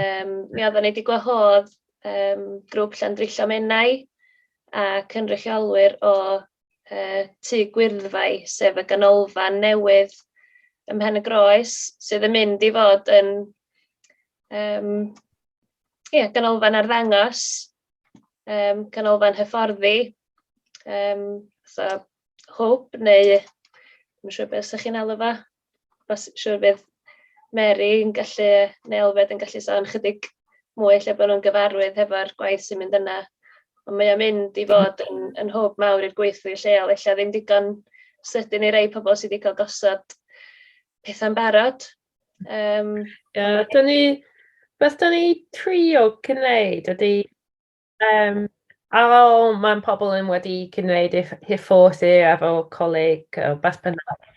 A: Yym, mi oedden ni 'di gwahodd yym grŵp Llandrillo Menai a cynrychiolwyr o yy Tŷ Gwyrddfai, sef y ganolfan newydd ym Mhen-y-groes sydd yn mynd i fod yn yym ia, ganolfan arddangos, yym canolfan hyfforddi, yym fatha hwb neu ddim yn siŵr be 'sa chi'n alw fo? Os... siŵr bydd Mary yn gallu, neu Elfed yn gallu sôn chydig mwy lle bod nhw'n gyfarwydd hefo'r gwaith sy'n mynd yna. Ond mae o'n mynd i fod yn yn hwb mawr i'r gweithlu lleol, ella ddim digon sydyn i rai pobl sy 'di cael gosod pethau'n barod. Yym... Ie, dan ni...
C: beth dan ni'n trio gwneud ydy... Yym, a fel mae'n pobl yn wedi cyd-wneud eich hyfforddi a fel coleg yy beth bynnag,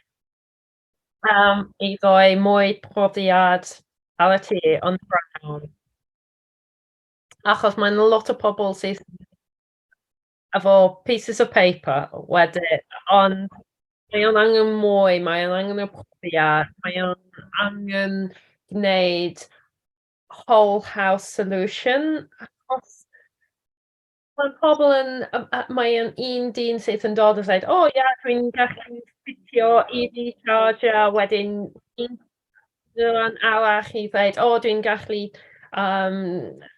C: yym, i roi mwy profiad ar y tŷ on the ground, achos mae'n lot o pobl sydd efo pieces of paper wedyn, ond mae o'n angen mwy, mae o'n angen y profiad, mae o'n angen gwneud whole house solution achos mae pobl yn yym a mae e'n un dyn sydd yn dod a dweud "o ie dwi'n gallu ffitio EV charger" a wedyn un dydd arall i ddweud "o dwi'n gallu yym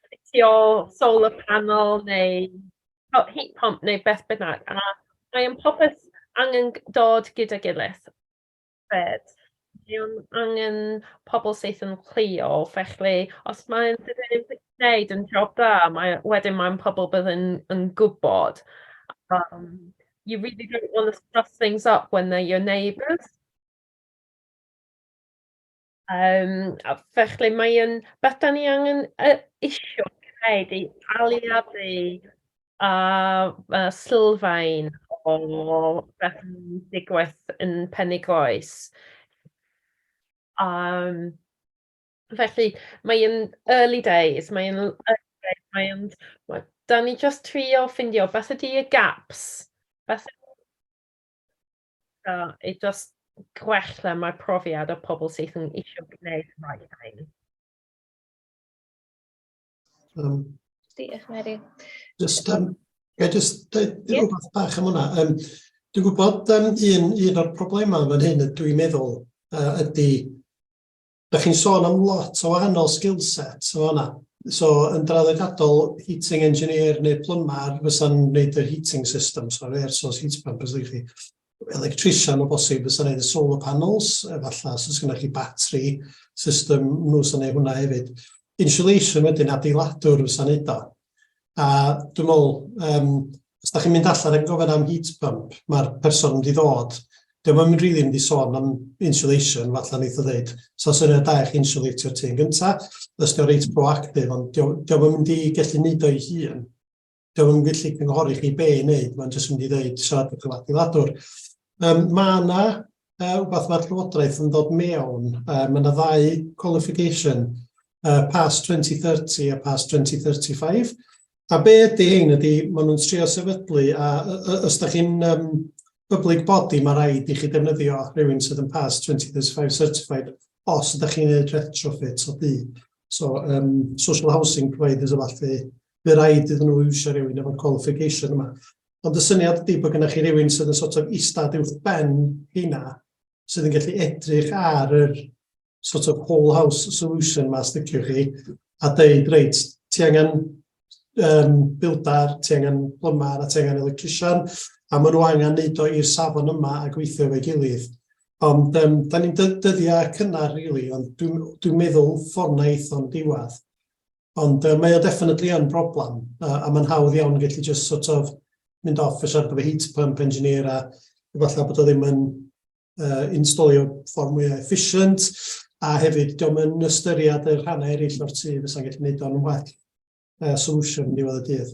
C: ffitio solar panel neu o heat pump neu beth bynnag" a mae e'n popeth angen g- dod gyda'i gilydd. Grêt. Mae o'n angen pobl syth yn chwilio, felly os mae e'n wneud yn job dda, mae e wedyn mae'n pobl bydd yn yn gwbod yym you really don't want to stuff things up when they're your neighbours. Yym, a felly mae yn beth 'dan ni angen yy isio gneud i aliadu â â sylfaen o beth sy'n digwydd yn Penygroes. Yym, felly mae yn early days, mae yn mae yn we- 'dan ni jyst trio ffindio beth ydi y gaps beth So, i just gwella mae profiad o pobl sydd yn eisiau gwneud y rhaid hyn. Um, Diolch,
A: Mary. Just, um,
F: I just dweud yeah. rhywbeth bach am hwnna. Um, dwi'n gwybod um, un, un o'r problemau fan hyn, dwi'n meddwl, uh, ydy Dach chi'n sôn am lot o wahanol skillsets yn fan'na. So yn draddodiadol, heating engineer neu plymar fysa'n wneud yr heating systems, so air source heat pump os ydych chi. Electrician o bosib fysa'n wneud y solar panels, efallai os oes gennych chi batri system nhw sy'n wneud hwnna hefyd. insulation wedyn adeiladwr fysa neud o. A dwi me'wl yym os 'dach chi'n mynd allan yn gofyn am heat pump, ma'r person mynd i ddod, 'di o'm yn rili mynd i sôn am insulation, fatha neith o ddeud, 'sa fo'n syniad da i chi insiwlatio'r tŷ yn gynta, jyst i fo' reit proactive, ond 'di o 'di o'm yn mynd i gellu neud o 'i hun. Dwi ddim yn gallu cynghori chi be i wneud, mae'n jyst mynd i ddeud siarad gyda adeiladwr. Um, mae yna uh, rhywbeth mae'r Llywodraeth yn dod mewn, uh, mae yna ddau qualification, uh, PAS 2030 a PAS 2035, a be ydy hyn ydy, maen nhw'n trio sefydlu, a os da chi'n um, public body, mae rhaid i chi defnyddio rhywun sydd yn PAS 2035 certified os ydych chi'n gwneud retrofit o dŷ. So, um, social housing providers o falle, Bydd rhaid iddyn nhw iwsio rhywun efo'r qualification yma. Ond y syniad ydy bod gennych chi rhywun sydd yn sort of istad uwch ben hynna, sydd yn gallu edrych ar yr sort of whole house solution yma, sticio chi, a dweud, reit, ti angen um, bildar, ti angen plymar, a ti angen electrician, a maen nhw angen neud o i'r safon yma a gweithio efo'i gilydd. Ond um, da ni'n dyddiau cynnar, really, ond dwi'n dwi meddwl ffordd na eithon diwedd. Ond uh, mae o definitely yn broblem, uh, a mae'n hawdd iawn gallu just sort of mynd off a siarad efo heat pump engineer a efallai bod o ddim yn uh, installio ffordd mwy efficient, a hefyd diolch yn ystyried y rhannau eraill o'r tu fysa'n gallu gwneud o'n well uh, solution yn diwedd y dydd.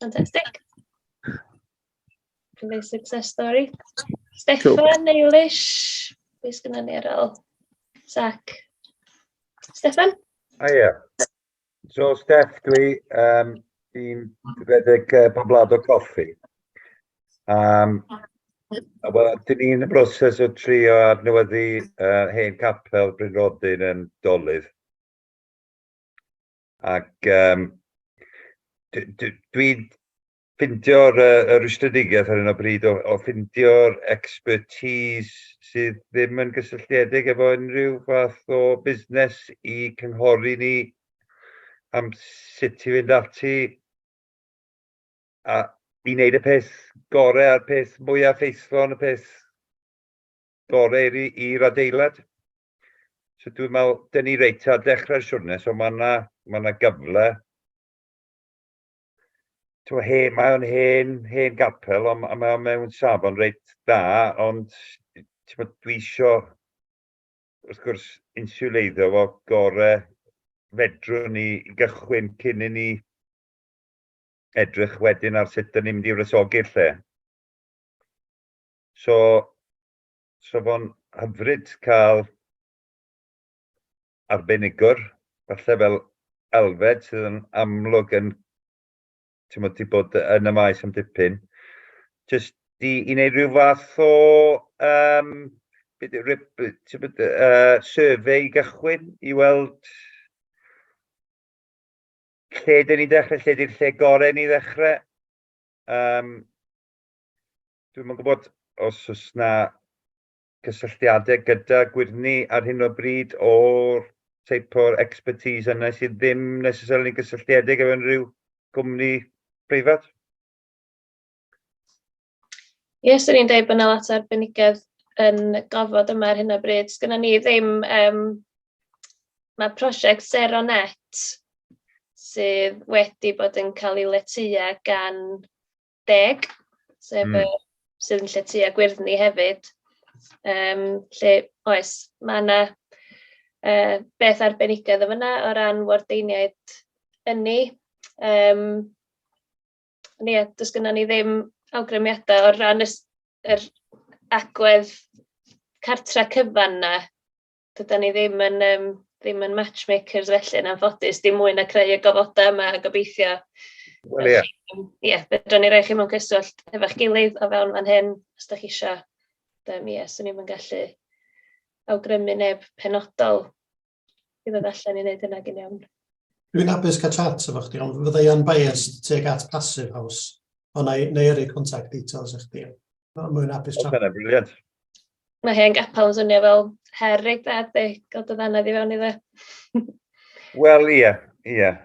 A: Fantastic. Cymru success story. Stefan, cool. Eilish, beth sgynna ni ar ôl? Sac. Stefan? O ie. Yeah.
I: So, Steph, dwi um, i'n rhedeg uh, poblad o coffi. Um, Wel, dyn ni'n y broses o trio adnewyddu uh, hen capel Bryn Rodyn yn Dolydd. Ac um, dwi'n ffindio'r uh, rwystredigaeth ar hyn o bryd o, o ffindio'r expertise sydd ddim yn gysylltiedig efo unrhyw fath o busnes i cynghori ni am sut i fynd ati a i wneud y peth gorau a'r peth mwyaf ffeithlon, y peth gorau i'r adeilad. So dwi'n meddwl, dyn ni reit ar dechrau'r siwrne, so mae yna ma na gyfle. Twa, he, mae o'n hen, hen gapel, ond mae o'n mewn safon reit dda, ond dwi isio, wrth gwrs, insuleiddio fo gore fedrwn ni gychwyn cyn i ni edrych wedyn ar sut dyn ni'n mynd i wresogi'r lle. So, So fo'n hyfryd cael arbenigwr, falle fel Alfed, sydd yn amlwg yn, ti'n modd, ti bod yn y maes am dipyn, jyst i, i wneud rhyw fath o, um, beth yw, ti'n bod, uh, survey i gychwyn, i weld lle dyn ni'n dechrau, lle di'r lle gorau ni ddechrau. Um, Dwi'm yn gwybod os oes na cysylltiadau gyda gwyrddni ar hyn o bryd o'r teip o'r expertise yna sydd ddim necessarily gysylltiedig efo unrhyw gwmni preifat?
A: Ie, swn i'n dweud bod yna lot o arbenigedd yn gofod yma ar hyn o bryd. Sgynna ni ddim, um, mae prosiect Zero Net sydd wedi bod yn cael ei letua gan deg, sef... mm. ...yy sydd yn lletya gwyrddni hefyd, yym, lle oes, mae yna yy beth arbenigedd yn fanna o ran wardeiniaid ynni. Yym, ond ie, does gynnon ni ddim awgrymiadau o ran yr agwedd cartref cyfan 'na. dydan ni ddim yn yym ddim yn matchmakers felly yn anffodus dim mwy na creu y gofoda' yma a gobeithio... Wel
I: ia. ...ia fedran ni
A: roi chi mewn cyswllt hefo'ch gilydd o fewn fan hyn os 'dach chi isio ond yym ia 'swn i'm yn gallu awgrymu neb penodol i ddod allan i neud hynna gin iawn. Dwi'n hapus
F: cael chat efo chdi ond fydda i yn biased tuag at Passive House ond 'nai 'nai yrru contact details i chdi. Mae'n mwyn apus tra. Mae'n briliant.
I: Mae hen
A: gapel yn swnio fel her reit dda, di, gael dy ddanedd i fewn i dde.
I: Wel, ie, yeah, ie. Yeah.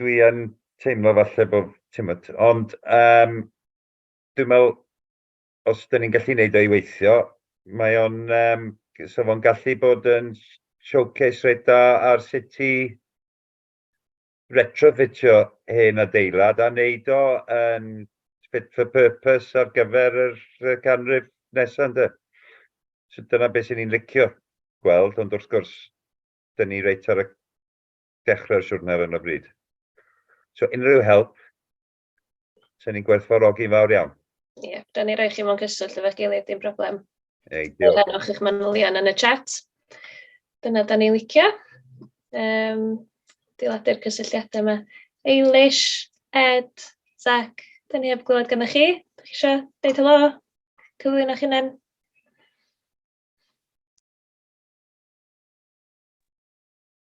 I: Dwi yn teimlo falle bod, timod, ond um, dwi'n meddwl, os dyn ni'n gallu neud o'i weithio, mae o'n, um, so fo'n gallu bod yn showcase reit da ar sut i retrofitio hen adeilad a wneud o yn fit for purpose ar gyfer yr canrif nesaf ynde. So dyna beth sy'n ni'n licio gweld, ond wrth gwrs, dyn ni reit ar y dechrau'r siwrne ar hyn o bryd. So unrhyw help Sen ni'n gwerthfawrogi'n fawr iawn. Ie, yeah, da ni roi
A: chi mewn cyswllt efo'r gilydd, dim problem. Ei, diolch. Fel o'ch
I: chi'ch manylion
A: yn y chat. Dyna da ni licio. Um, diladu'r cysylltiadau yma. Eilish, Ed, Zach, da ni heb glywed gyda chi. Da chi eisiau deud helo? Cyflwyn o'ch hunan?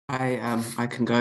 J: I, um, I can go.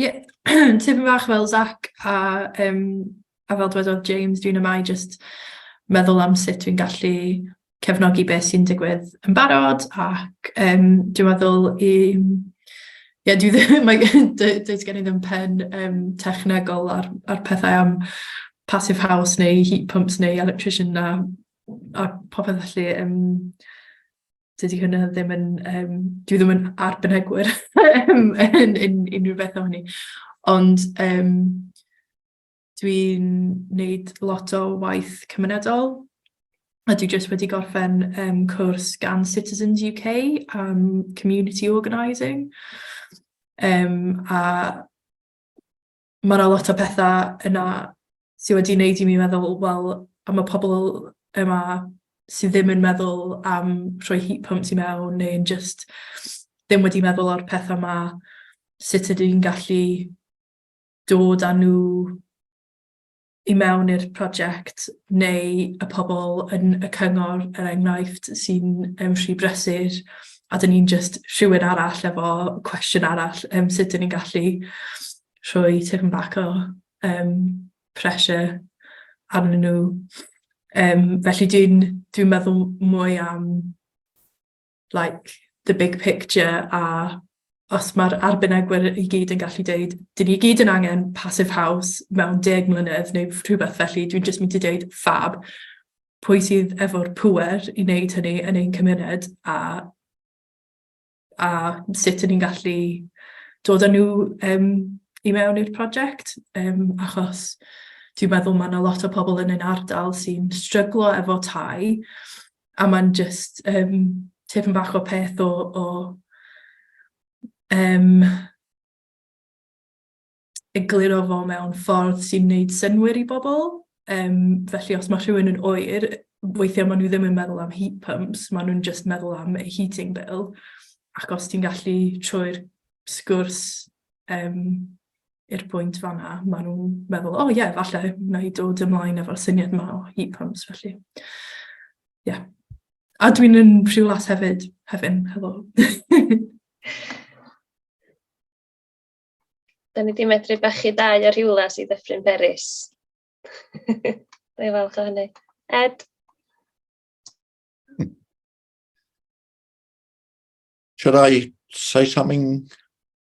K: Ie tipyn bach fel Zach a yym a fel dywedodd James dwi'n yma i jyst meddwl am sut dwi'n gallu cefnogi be sy'n digwydd yn barod ac yym dwi'n meddwl i ie dwi ddim mae gen d- does gen i ddim pen yym technegol ar ar pethau am passive house neu heat pumps neu electrician a a popeth felly yym dydy hwnna ddim yn yym dwi ddim yn arbenigwr yn yn yn unrhyw beth o'n i. Ond yym dwi'n wneud lot o waith cymunedol a dwi jyst wedi gorffen um, cwrs gan Citizens UK am um, community organising um, a mae yna lot o pethau yna sydd wedi wneud i mi meddwl, wel, am y pobl yma sydd ddim yn meddwl am rhoi heat pumps i mewn neu'n jyst ddim wedi meddwl o'r pethau yma, sut ydw i'n gallu dod â nhw... i mewn i'r prosiect neu y pobl yn y cyngor, er enghraifft, sy'n yym rhy brysur a 'dyn ni'n jyst rhywun arall efo cwestiwn arall, yym sut 'dyn ni'n gallu rhoi tipyn bach o yym pressure arnyn nhw yym felly dwi'n dwi'n meddwl mwy am... like, the big picture, a os mae'r arbenigwyr i gyd yn gallu deud, "dyn ni i gyd yn angen passive house mewn deg mlynedd" neu rhywbeth felly, dwi'n jyst mynd i deud "fab", pwy sydd efo'r pŵer i wneud hynny yn ein cymuned, a a sut 'yn ni'n gallu dod â nhw yym i mewn i'r prosiect, yym achos dwi'n meddwl ma' 'na lot o pobl yn ein ardal sy'n stryglo efo tai. a mae'n jyst yym tipyn bach o peth o o yym egluro fo mewn ffordd sy'n wneud synnwyr i bobl. Yym felly os mae rhywun yn oer, weithiau maen nhw ddim yn meddwl am heat pumps, maen nhw'n jyst meddwl am eu heating bill ac os ti'n gallu trwy'r sgwrs yym i'r pwynt fanna, maen nhw'n meddwl, o oh, ie, yeah, falle wna i dod ymlaen efo'r syniad yma o heat pumps, felly. Ie. Yeah. A dwi'n yn rhywlas hefyd, hefyd, helo.
A: da ni wedi medru bachu dau o rhywlas i ddeffryn Beris. da i falch o hynny. Ed?
L: Should I say something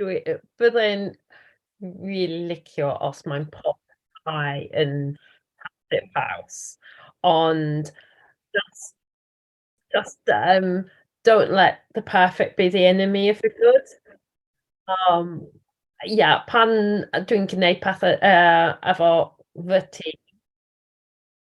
C: Dwi yy byddai'n rili licio os mae'n pop eye yn Paramount House, ond jyst jyst yym don't let the perfect be the enemy of the good. Yym ia, pan dwi'n gwneud pethe yy efo fy tîm.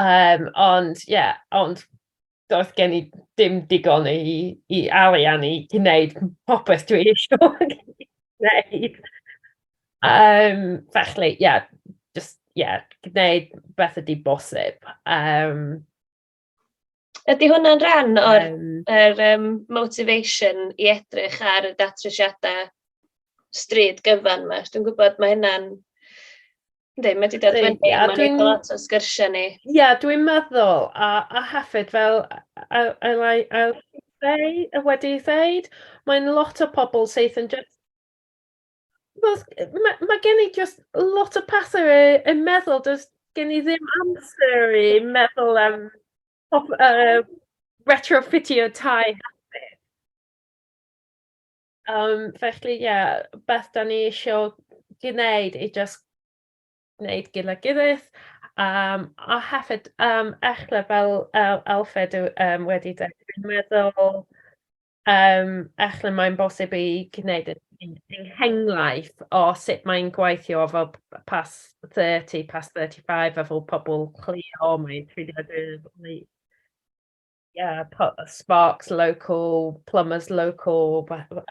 C: Yym, ond ie, ond doedd gen i ddim digon i i arian i gwneud popeth dwi isio gwneud. Yym, felly ie, jyst ie, gwneud beth ydy bosib, yym...
A: Ydy hwnna'n rhan o'r... yym. ...yr yym motivation i edrych ar y datrysiadau stryd gyfan 'ma? Achos dwi'n gwybod mae hynna'n... Yndi, mae 'di dod fyny... Yndi, a dwi'n... ...Mae'n neud lot o sgyrsiau ni. Ie, dwi'n meddwl,
C: a a hefyd fel a a like a ddeu- a wedi ddeud, mae'n lot o pobl sydd yn jyst wel, ma' ma' gen i jyst lot o pethe i i meddwl, does gen i ddim amser i meddwl am pop- yy retrofitio tai hefyd. Yym felly ie, beth 'dan ni isio gneud i jyst neud gyda'th gilydd yym a hefyd yym echle fel yy Alfred yw yym wedi deud dwi'n meddwl yym echle mae'n bosib i gneud e yn yn henghraifft o sut mae'n gweithio efo p- p- pas thirty, pas thirty five efo pobol lleol, mae e'n treulio . Ie, po- sparks local, plumbers local, ba- ba-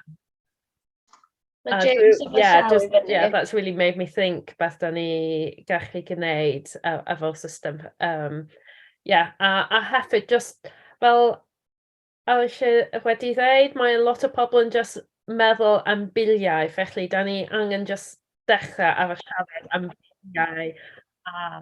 C: Mae A James dwi- yn fy yeah, llaw i just, fyny. yeah, that's really made me think beth da ni gallu gwneud a, a fel system. Um, yeah, a, a hefyd just fel a eisiau wedi ddeud, mae lot o pobl yn just meddwl am biliau, felly da ni angen just dechrau ar y siarad am biliau a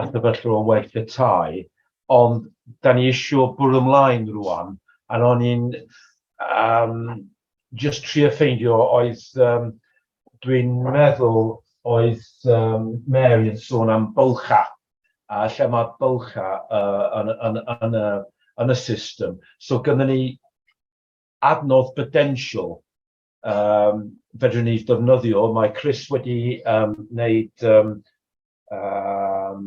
E: y sefyllfa o waith y tai, ond da ni eisiau bwrw ymlaen rwan, a ro'n i'n um, just trio ffeindio oedd, um, dwi'n meddwl oedd um, Mary yn sôn am bylcha, a lle mae bylcha uh, yn, yn, yn, yn, yn y system. So gyda ni adnodd potential um, fedrwn ni ddefnyddio, mae Chris wedi um, wneud um, um,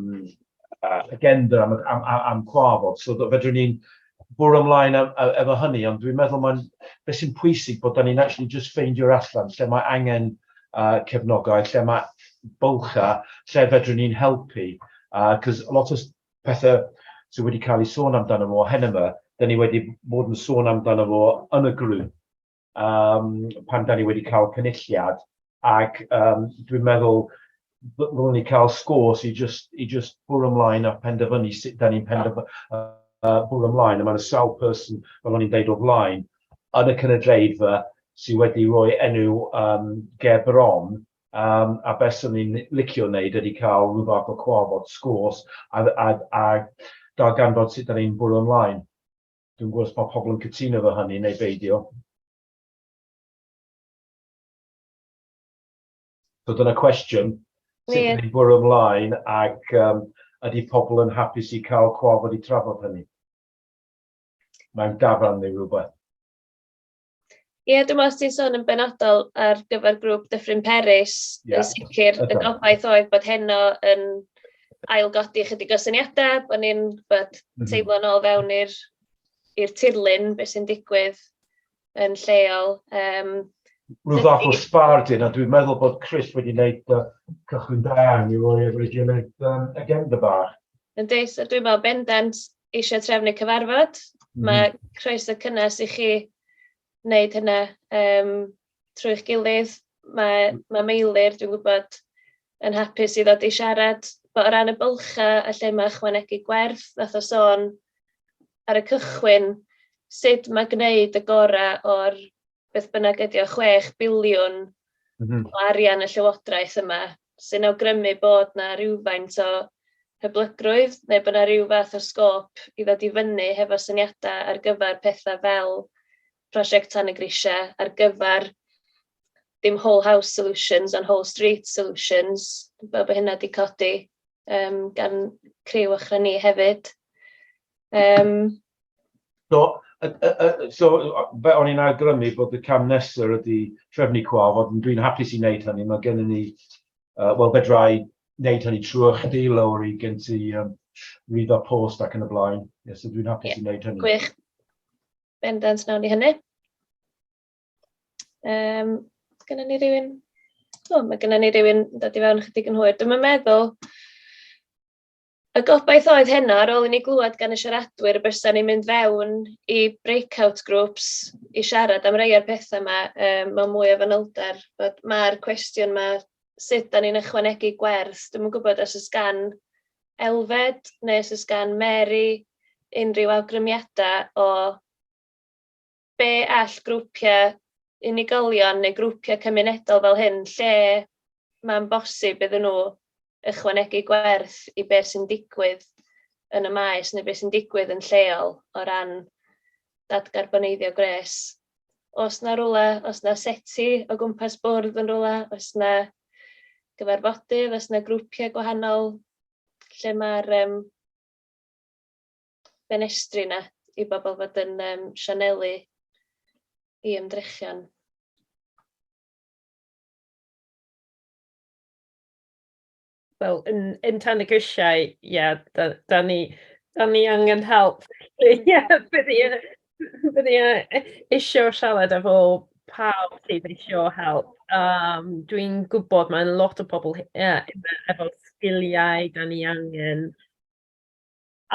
E: uh, agenda am, am, am, am cwafod, so fedrwn ni'n bwrw ymlaen efo hynny, ond dwi'n meddwl mae'n beth sy'n pwysig bod ni'n actually just ffeindio allan lle mae angen uh, cefnogaeth, lle mae bylcha, lle fedrwn ni'n helpu. Cos uh, lot o pethau sydd wedi cael ei sôn amdano fo hyn yma, da ni wedi bod yn sôn amdano fo yn y grŵp, um, pan da ni wedi cael cynulliad, ac um, dwi'n meddwl rwy'n ni cael sgwrs i just, i just bwrw ymlaen a penderfynu sut da ni'n penderfynu uh, bwrw ymlaen, a mae'n sawl person, fel o'n i'n deud o flaen, yn y cynulleidfa sydd wedi rhoi enw um, ger bron Um, a beth sy'n ni'n licio wneud ydy cael rhyw fath o cwafod sgwrs a, a, a darganfod sut da ni'n bwrw ymlaen. Dwi'm yn gwybod os mae pobl yn cytuno efo hynny neu beidio. So dyna cwestiwn, sut yeah. ni'n bwrw ymlaen ac um, ydy pobl yn hapus i cael cwaf wedi trafod hynny? Mae'n dafan neu rhywbeth.
A: Ie, dwi'n meddwl os ti'n sôn yn benodol ar gyfer grŵp Dyffryn Peris, yeah. yn sicr y gobaith oedd bod heno yn ailgodi chydig o syniadau, bod ni'n bod mhm. teimlo'n ôl fewn i'r i'r tirlun, beth sy'n digwydd yn lleol. Um,
E: Rwy'n fath o sbard yna, dwi'n meddwl bod Chris wedi gwneud uh, cychwyn da i roi efo'i gilydd um, agenda bach. Yn deis, dwi'n
A: meddwl bendant, eisiau trefnu cyfarfod, mae croeso cynnes i chi wneud hynna yym trwy'ch gilydd. Mae mae Meilir, dwi'n gwybod, yn hapus i ddod i siarad. Bod o ran y bylchau a lle mae ychwanegu gwerth, wnaeth o sôn ar y cychwyn sut mae gwneud y gorau o'r beth bynnag ydi o, 6 biliwn mm-hmm. o arian y Llywodraeth yma, sy'n awgrymu bod na rhywfaint o hyblygrwydd neu bod na rhyw fath o sgôp i ddod i fyny hefo syniadau ar gyfer pethau fel prosiect Tan y Grisiau, ar gyfer dim whole house solutions ond whole street solutions, fel bod hynna wedi codi um, gan criw ochr ni hefyd. Um,
E: So, y, y, y, so fe o'n i'n awgrymu bod y cam nesaf ydy trefnu cwa, fod dwi'n hapus i wneud hynny, mae gennym ni, uh, wel, fedrai wneud hynny trwy chdi, lawr i gen ti um, read our post ac yn y blaen. Yes, so dwi'n hapus yeah. i wneud hynny. Gwych.
A: Bendant nawn i hynny. Um, Gynna ni rhywun... O, mae gynna ni rhywun dod i fewn chydig yn hwyr. Dwi'n meddwl Y gobaith oedd heno, ar ôl i ni glywed gan y siaradwyr y bysen ni'n mynd fewn i breakout groups i siarad am rei o'r pethau yma um, mewn mwy o fanylder. Mae'r cwestiwn yma, sut da ni'n ychwanegu gwerth? Dwi'n gwybod os ys gan Elfed neu os ys gan Mary unrhyw awgrymiadau o be all grwpiau unigolion neu grwpiau cymunedol fel hyn, lle mae'n bosib iddyn nhw ychwanegu gwerth i beth sy'n digwydd yn y maes neu beth sy'n digwydd yn lleol o ran dadgarboneiddio gwres. Os na rwle, os na seti o gwmpas bwrdd yn rwle, os na gyfarfodydd, os na grwpiau gwahanol lle mae'r um, benestri yna i bobl fod yn um, sianelu i ymdrechion.
C: Wel, yn, yn tan y grisiau, ie, yeah, da, da, ni, da ni angen help. Ie, yeah, bydd i eisiau siarad efo pawb sydd eisiau help. Um, Dwi'n gwybod mae'n lot o pobl yeah, efo sgiliau da ni angen.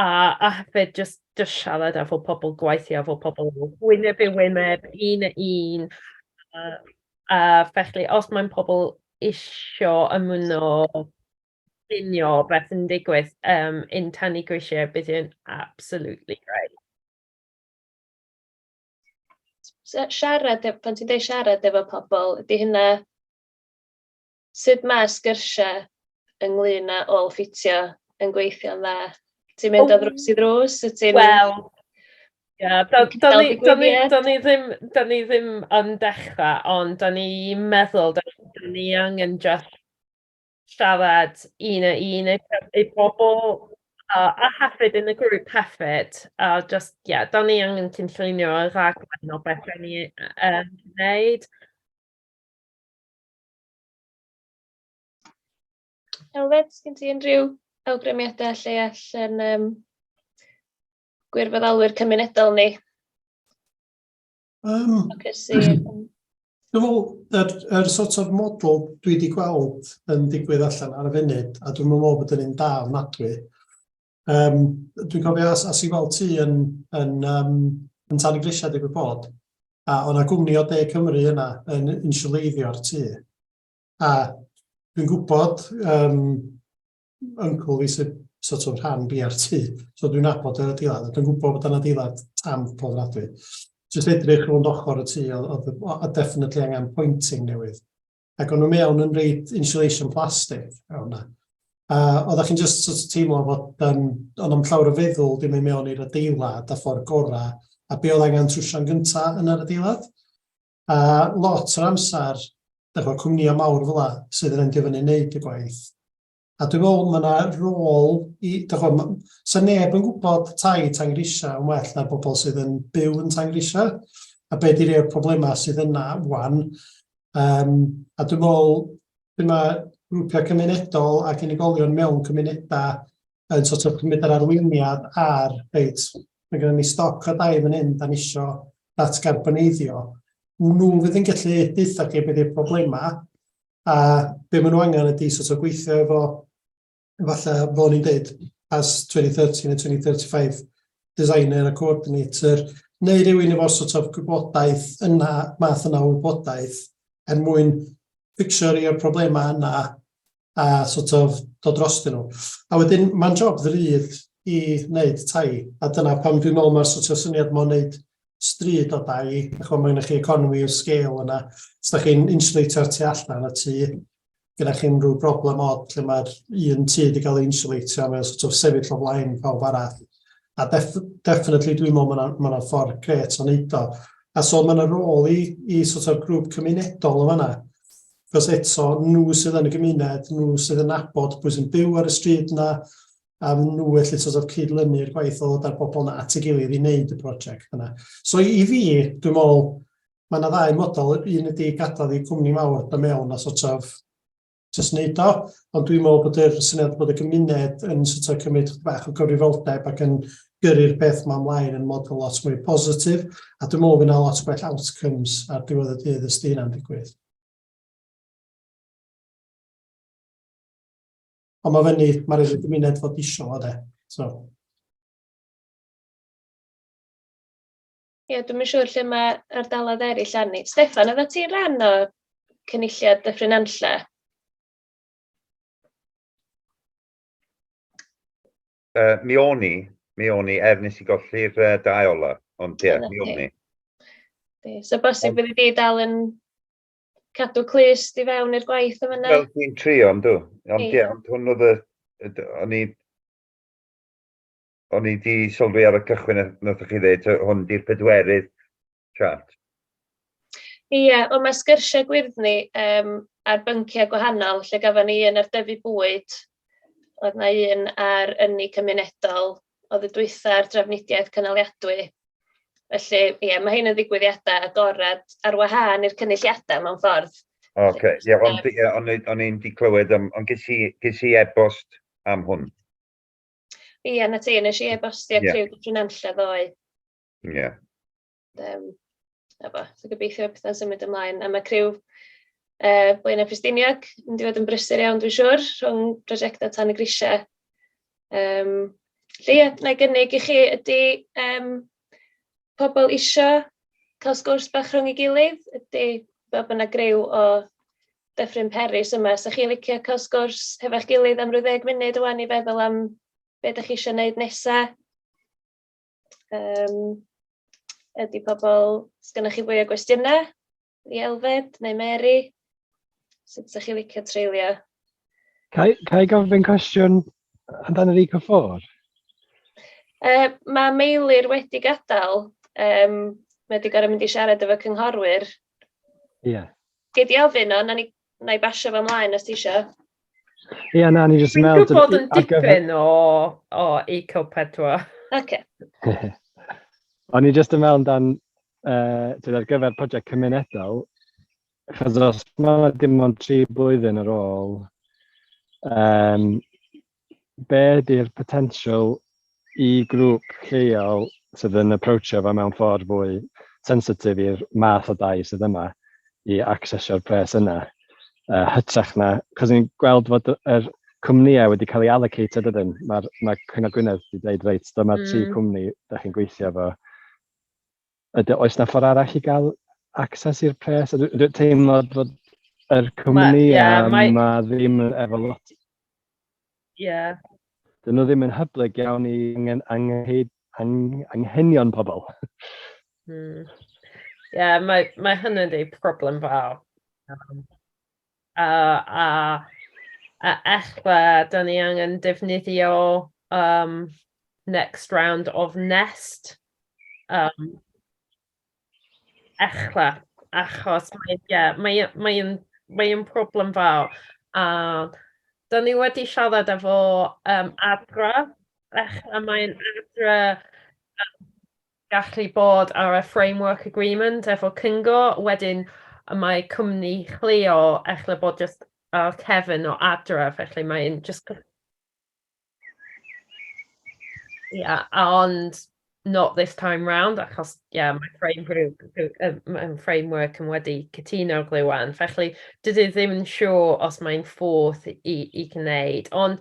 C: A a hefyd jyst jyst siarad efo pobl, gweithio efo pobl wyneb i wyneb, un a un, a a felly os mae'n pobl isio ymuno, llunio beth sy'n digwydd yym in Tan-y Grisiau bydd e'n absolutely great. So siarad e- pan ti'n
A: deud siarad efo pobl, ydy hynna... Sut mae'r sgyrsiau ynglyn â ôl-ffitio yn gweithio'n dda? Ti'n mynd o ddrws i ddrws, wyt ti'n... Wel,
C: ia, do'n i ddim, do'n i ddim yn dechrau, ond do'n i'n meddwl, do'n ni angen just siarad un a un i bobl, a hefyd yn y grŵp hefyd, a just, ie, do'n i angen cynllunio y rhaglen o beth o'n i yn gwneud.
A: Elfed, sgyn ti unrhyw awgrymiadau lle allan um, gwirfoddolwyr cymunedol ni? Um,
F: Dwi'n meddwl, yr, yr sort of model dwi wedi gweld yn digwydd allan ar y funud, a dwi'n meddwl bod yn un da ofnadwy, Um, dwi'n cofio as, as i weld ti yn, yn, um, yn tan y grisiau digwydd bod, a o'na gwmni o De Cymru yna yn insiwleiddio'r tu. A dwi'n gwybod um, yncl fi sydd sort of rhan BRT, so dwi'n nabod yr adeilad, dwi'n gwybod bod yna adeilad tam pob radwy. Just edrych rhwng ochr y tu, oedd definitely angen pointing newydd. ac o'n nhw mewn yn reid insulation plastic mewn yna. A oeddech chi'n just sort of teimlo fod um, o'n am llawer o feddwl dim ei mewn i'r adeilad a ffordd gorau, a be oedd angen trwsio'n gyntaf yn yr adeilad. A lot o'r amser, dych chi'n cwmnïau mawr fel sydd yn endio fyny wneud y gwaith. A dwi'n meddwl mae yna rôl i, dych chi'n gwybod, sa neb yn gwybod tai Tangrisau yn well na'r bobl sydd yn byw yn Tangrisau, a be di rhei'r problemau sydd yna wan. Um, a dwi'n meddwl, dwi'n mae grwpiau cymunedol ac unigolion mewn cymunedau yn sort of cymryd yr arweiniad ar, reit, mae gennym ni stoc o dai fan hyn, da ni isio datgarboneiddio. Nhw fydd yn gallu deutha chi beth yw'r problemau, A be maen nhw angen ydy sort of gweithio efo, falle, fel ni'n dweud, as 2030 neu 2035, designer a coordinator, neu rhywun efo sort of gwybodaeth yna, math yna o wybodaeth, er mwyn fixio rhai o'r problemau yna a sort of dod dros dyn nhw. A wedyn, mae'n job ddrud i wneud tai, a dyna pam dwi'n meddwl mae'r sort of syniad mae'n wneud stryd o dai, a chwa, mae yna chi economi o sgêl yna. Os da chi'n insulatio'r tu allan y tu, gyda chi unrhyw broblem odd lle mae'r un tu wedi cael ei insulatio, mae'n sort of sefyll o flaen pawb arall. A def definitely dwi'n meddwl mae yna ma ffordd gret o wneud o. A so mae yna rôl i, i sort of grŵp cymunedol yn fanna. Cos eto, nhw sydd yn y gymuned, nhw sydd yn nabod pwy sy'n byw ar y stryd yna, a fy nhw felly sort of cyd-lynu'r gwaith o ddod â'r bobl yna at ei gilydd i wneud y prosiect yna. So i fi, dwi'n meddwl, mae yna ddau model, un ydy gadael i cwmni mawr da mewn a sort of just wneud o, ond dwi'n meddwl bod yr syniad bod y gymuned yn sort of cymryd bach o gyfrifoldeb ac yn gyrru'r peth ma'n mlaen yn model lot mwy positif, a dwi'n meddwl fyna lot gwell outcomes ar diwedd y dydd ysdi hynna'n digwydd. Ond mae
A: fyny, mae rhaid i'r gymuned fod isio fo de. So. Ie, dwi'n siŵr lle mae ardaloedd eraill arni. Stefan, oedd ti'n rhan o cynulliad Dyffryn Anlle? Uh,
I: mi o'n i, mi o'n i, er nes i golli'r uh, dau ola, ond ie, yeah, mi o'n i. So
A: bosib bydd i dal yn cadw clust i fewn i'r gwaith yn fan'na. Wel dwi'n trio yndw
I: ond ie ond hwn oedd y yy o'n i o'n i di sylwi ar y cychwyn a nathoch chi ddeud yy hwn di'r pedwerydd chat.
A: Ie ond mae sgyrsiau gwyrddni yym ar bynciau gwahanol lle gafon ni un ar dyfu bwyd, oedd na un ar ynni cymunedol, oedd y dwytha a'r drafnidiaeth cynaliadwy. Felly, ie, mae hyn yn ddigwyddiadau agored ar wahân i'r cynulliadau mewn ffordd. O, oce. Okay. Ie,
I: ond ie, o'n i- o'n i'n 'di clywed am, ond ges i ges i e-bost am hwn.
A: Ie, 'na ti, nes i e-bostio Ie. Criw Dyffryn Nantlle ddoe. Ie.
I: Um,
A: efo. So gobeithio pethau'n symud ymlaen. A mae criw uh, Blaenau Pristiniog yn mynd yn brysur iawn, dwi'n siŵr, rhwng prosiectau tan y grisiau. Um, lle ie, na i gynnig i chi ydy um, pobl eisiau cael sgwrs bach rhwng ei gilydd, ydy bod yna grew o Dyffryn Peris yma. So chi licio cael sgwrs hefo'ch gilydd am rhyw ddeg munud o'n i feddwl am beth ydych chi eisiau gwneud nesaf. Um, ydy pobl, sgynnych chi fwy o gwestiynau i Elfed neu Mary? Sut ydych chi licio treulio?
D: Ca i gofyn cwestiwn amdano fi cyffordd? Uh, mae
A: Meilir wedi gadael, um, mae wedi gorau mynd i siarad efo cynghorwyr. Ie. Yeah.
D: Gei di
A: ofyn o, na ni Wna i basio fo ymlaen os ti isio. Ie,
D: na, ni jyst yn meddwl... Dwi'n gwybod yn dipyn
C: o, o Eco 4. Oce.
A: Okay.
D: O'n i jyst yn meddwl amdan, uh, tyd, ar gyfer prosiect cymunedol, chos os mae dim ond tri blwyddyn ar ôl, um, be ydy'r potensial i grŵp lleol sydd yn approachio fo mewn ffordd fwy sensitif i'r math o dai sydd yma i accessio'r pres yna uh, hytrach na, cos ni'n gweld fod yr cwmnïau wedi cael ei allocated ydyn, mae'r mae Cyngor Gwynedd wedi dweud reit, dyma mm. tri cwmni da chi'n gweithio fo, Ydy, oes na ffordd arall i gael access i'r pres? Dwi dwi teimlo bod yr cwmni yeah, a mae... ma ddim efo
C: lot...
D: Yeah. Dyn nhw ddim yn hyblyg iawn i angen, angen, angen, anghenion pobl. Hmm.
C: Ie, mae mae hynny'n rhyw problem fawr. uh, a, a ella da ni angen defnyddio um, next round of nest. Um, ella, achos mae'n yeah, mae, mae, mae problem fawr. A da ni wedi siarad efo um, adra, ella mae'n adra um, gallu bod ar y framework agreement efo cyngor, wedyn y mae cwmni chleo ella bod jyst ar cefn o adref, felly mae'n jyst... Yeah, ond not this time round, achos yeah, mae frame group, mae framework yn wedi cytuno rŵan, felly dydy ddim yn siŵr os mae'n ffordd i, i gwneud, ond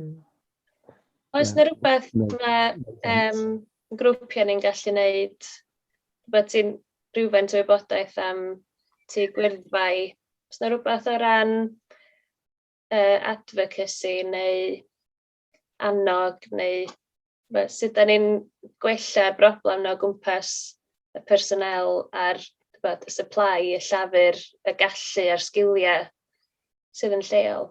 A: Mm. Oes yna rhywbeth mae um, grwpiau ni'n gallu wneud, rhywbeth sy'n rhywfaint o wybodaeth am tu gwyrddfau? Oes yna rhywbeth o ran uh, advocacy neu annog neu fe, sut da ni'n gwella broblem na o gwmpas y personel a'r bod, y supply, y llafur, y gallu a'r sgiliau sydd yn lleol?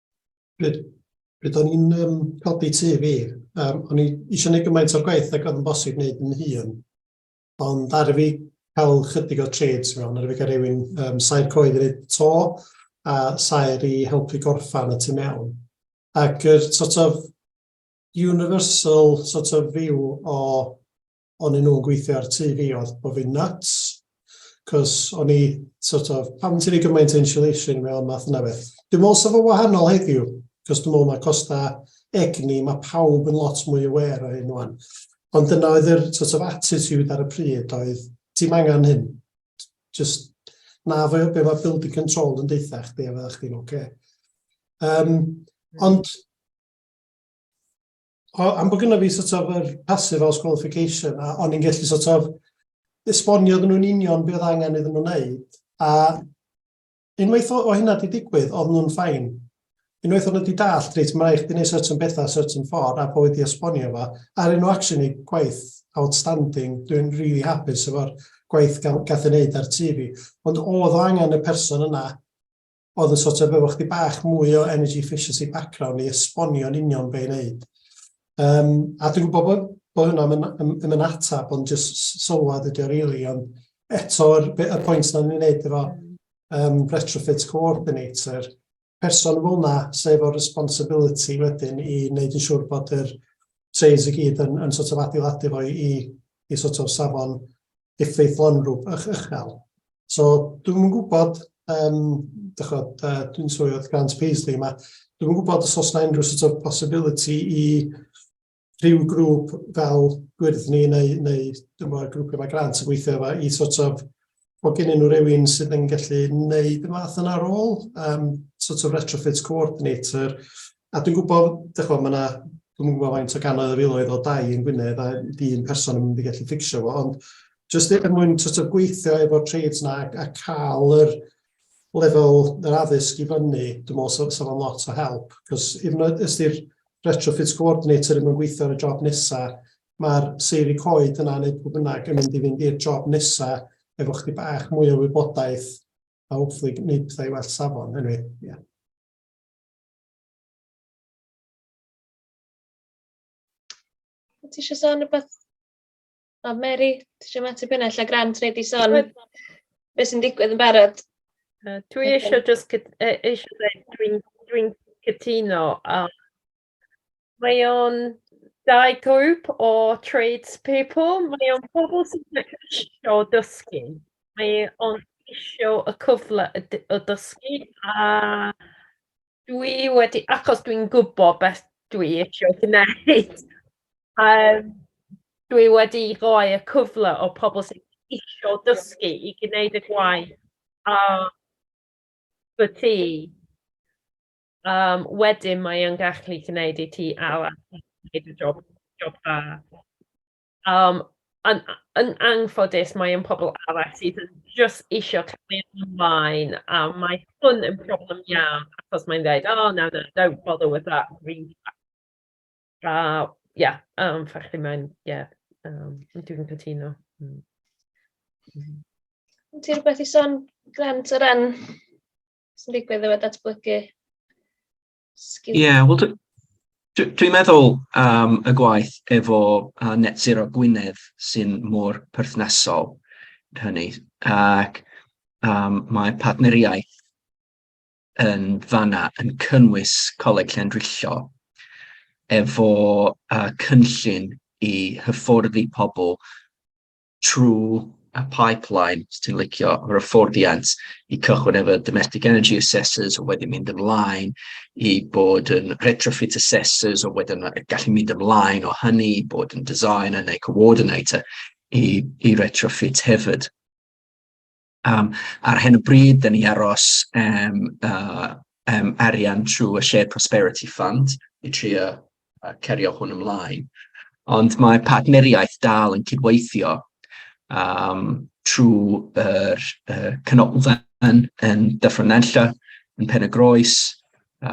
F: Bydd, bydd o'n i'n um, codi tu fi. Um, o'n i eisiau gwneud gymaint o'r gwaith ac oedd yn bosib wneud yn hun. Ond ar y fi cael chydig o trades mewn, ar y fi cael rhywun um, sair coed yn ei to a sair i helpu gorffan y tu mewn. Ac yr sort of universal sort of view o o'n i'n nhw'n gweithio ar tŷ fi oedd bod fi'n nuts, cos o'n i, sort of, pam ti'n ei gymaint insulation fel math yna beth. Dwi'n meddwl sef o wahanol heddiw, cos dwi'n meddwl mae costau egni, mae pawb yn lot mwy aware o hyn o'n. Ond dyna oedd yr sort of attitude ar y pryd oedd, ti'n angen hyn, just na fe be mae building control yn deitha chdi a fydda chdi'n oce. Okay. Um, ond O, am bod gyda fi sort of yr passive house qualification, a o'n i'n gallu sort of esbonio iddyn nhw'n union beth oedd angen iddyn nhw'n wneud, a unwaith o, o hynna di digwydd, oedd nhw'n ffain. Unwaith o'n nhw wedi dallt, reit, mae eich di wneud certain bethau, certain ffordd, a bod wedi esbonio fo, a rydyn nhw actually gwaith outstanding, dwi'n really hapus efo'r gwaith gath ei wneud ar TV. Ond oedd o angen y person yna oedd yn sort of efo chdi bach mwy o energy efficiency background i esbonio yn union be i wneud. Um, a dwi'n gwybod bod, bod hwnna yn, yn, yn yn atab, ond jyst sylwad ydi o rili, really, ond eto'r y pwynt na'n ni'n wneud efo um, retrofit coordinator, person fel yna sef o'r responsibility wedyn i wneud yn siŵr bod yr trays i gyd yn, yn sort of adeiladu fo i, i sort of safon effeithlonrwb ych uchel. So dwi'm yn gwybod, um, dychod, uh, dwi'n swy oedd Grant Paisley yma, dwi'm yn gwybod os oes yna unrhyw sort of possibility i rhyw grŵp fel gwyrddni neu, neu dwi'n meddwl grwpiau mae Grant yn gweithio efo i sort of bod gen nhw rhywun sydd yn gallu wneud y math yna rôl, um, sort of retrofit coordinator, A dwi'n gwybod, dych chibod, mae yna, dwi'm yn gwybod faint o gannoedd o filoedd o dai yn Gwynedd a un person yn mynd i gallu fficsio fo, ond jyst er mwyn sort of gweithio efo'r trades yna a cael yr lefel yr addysg i fyny, dwi'n meddwl sef so, so lot o help, cos hyd yn oed os di'r retrofits coordinator yn gweithio ar y job nesaf, mae'r seiri coed yna neu pwy bynnag yn mynd i fynd i'r job nesaf efo chdi bach mwy o wybodaeth a hopefully gwneud pethau i well safon, anyway, yeah.
A: Ti eisiau sôn rhywbeth? O, Mary, ti eisiau mateb hynna? Lle Grant wedi sôn beth sy'n digwydd yn barod? Uh, dwi
C: eisiau just eisiau dweud dwi'n dwi cytuno a Mae o'n dau grŵp o tradespeople, mae o'n pobl sydd ddim isio dysgu, mae o'n isio y cyfle y d- o dysgu a dwi wedi... achos dwi'n gwybod beth dwi isio gwneud, yym dwi wedi rhoi y cyfle o pobl sydd isio dysgu i gwneud y gwaith a 'na ti. Um, wedyn mae o'n gallu gwneud i ti arall gwneud y job, job da. Um, yn, yn angffodus mae o'n pobl arall sydd yn just eisiau cael ei ymlaen a mae hwn yn problem iawn achos mae'n dweud, oh no, no, don't bother with that green flag. Uh, yeah, um, ffachdi mae'n, yeah, um, dwi'n cytuno.
A: Mm. Ti'n rhywbeth i son, Grant, o ran sy'n digwydd efo datblygu sgil? Ie, yeah, wel, dwi'n
M: dwi, dwi meddwl um, y gwaith efo uh, Net Zero Gwynedd sy'n mor perthnasol hynny. Ac um, mae partneriaeth yn fanna yn cynnwys Coleg Llandrillo efo uh, cynllun i hyfforddi pobl trwy y pipeline, os ti'n licio, yr hyfforddiant i cychwyn efo domestic energy assessors, a wedyn mynd ymlaen i bod yn retrofit assessors, a wedyn gallu mynd ymlaen o hynny, bod yn designer neu coordinator i, i retrofit hefyd. Yym ar hyn o bryd, dan ni'n aros am yym arian trwy y Shared Prosperity Fund i trio cario hwn ymlaen, ond mae partneriaeth dal yn cydweithio yym trwy'r yy canolfan yn Dyffryn Nantlle, yn Pen-y-groes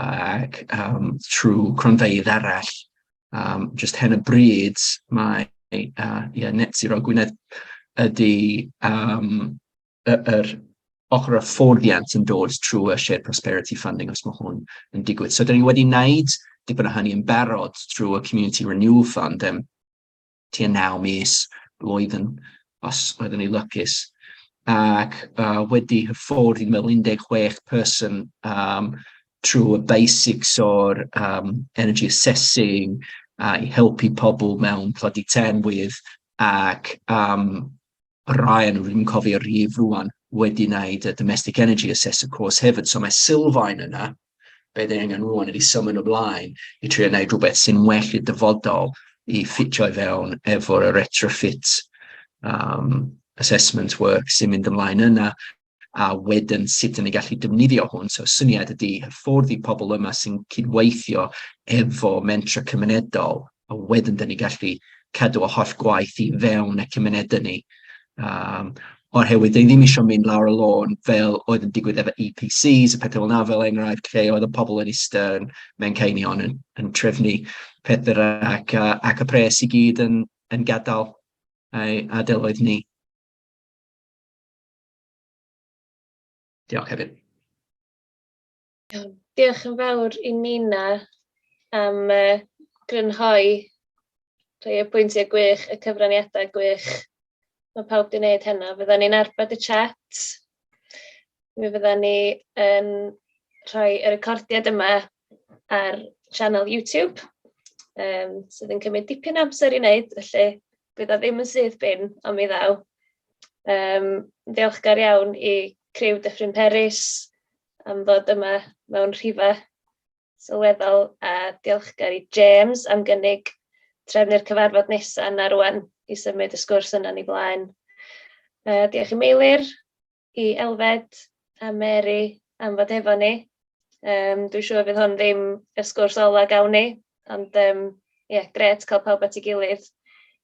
M: ac yym trwy cronfeydd arall. Um, just hen y bryd, mae uh, yeah, net zero Gwynedd ydy um, yr y, er ochr y fforddiant yn dod trwy y shared prosperity funding os mae hwn yn digwydd. So, dyn ni wedi wneud dipyn o hynny yn barod trwy y Community Renewal Fund. Um, tua naw mis, blwyddyn, os oeddwn i'n lwcus. Ac uh, wedi hyfforddi mewn 16 person um, trwy y basics o'r um, energy assessing, uh, i helpu pobl mewn tlodi tenwydd, ac um, Ryan, rwy'n cofio rhif rwan, wedi wneud y domestic energy assessor course hefyd, so mae Sylfaen yna, be dyn angen rwan ydy symud o blaen i trio wneud rhywbeth sy'n well i'r dyfodol i ffitio i fewn efo'r retrofit um, assessment work sy'n mynd ymlaen yna a wedyn sut yn ei gallu defnyddio hwn. So syniad ydy hyfforddi pobl yma sy'n cydweithio efo mentra cymunedol a wedyn dan ni'n gallu cadw y holl gwaith i fewn y cymunedau ni. Um, o'r hewyd, dyn ni ddim eisiau mynd lawr y lôn fel oedd yn digwydd efo EPCs, y pethau fel na fel enghraifft, lle oedd y pobl yn eistedd yn mewn cainion yn, yn trefnu pethau ac, uh, ac y pres i gyd yn, yn gadael ei adeloedd ni. Diolch hefyd. Iawn.
A: Diolch yn fawr i Nina am yy grynhoi rhai o'r pwyntiau gwych, y cyfraniadau gwych mae pawb wedi wneud heno. Fyddan ni'n arbed y chat, mi fyddan ni yn rhoi y recordiad yma ar sianel YouTube, um, sydd yn cymryd dipyn amser i wneud, felly bydd o ddim yn syth bin, ond mi ddaw. Um, ddiolchgar iawn i criw Dyffryn Peris, am ddod yma mewn rhifau sylweddol a diolchgar i James am gynnig trefnu'r cyfarfod nesaf yna rŵan i symud y sgwrs yna ni blaen. Uh, diolch i Meilir, i Elfed a Mary am fod efo ni. Um, dwi'n siŵr fydd hwn ddim y sgwrs ola gawn ni, ond um, yeah, gret cael pawb at ei gilydd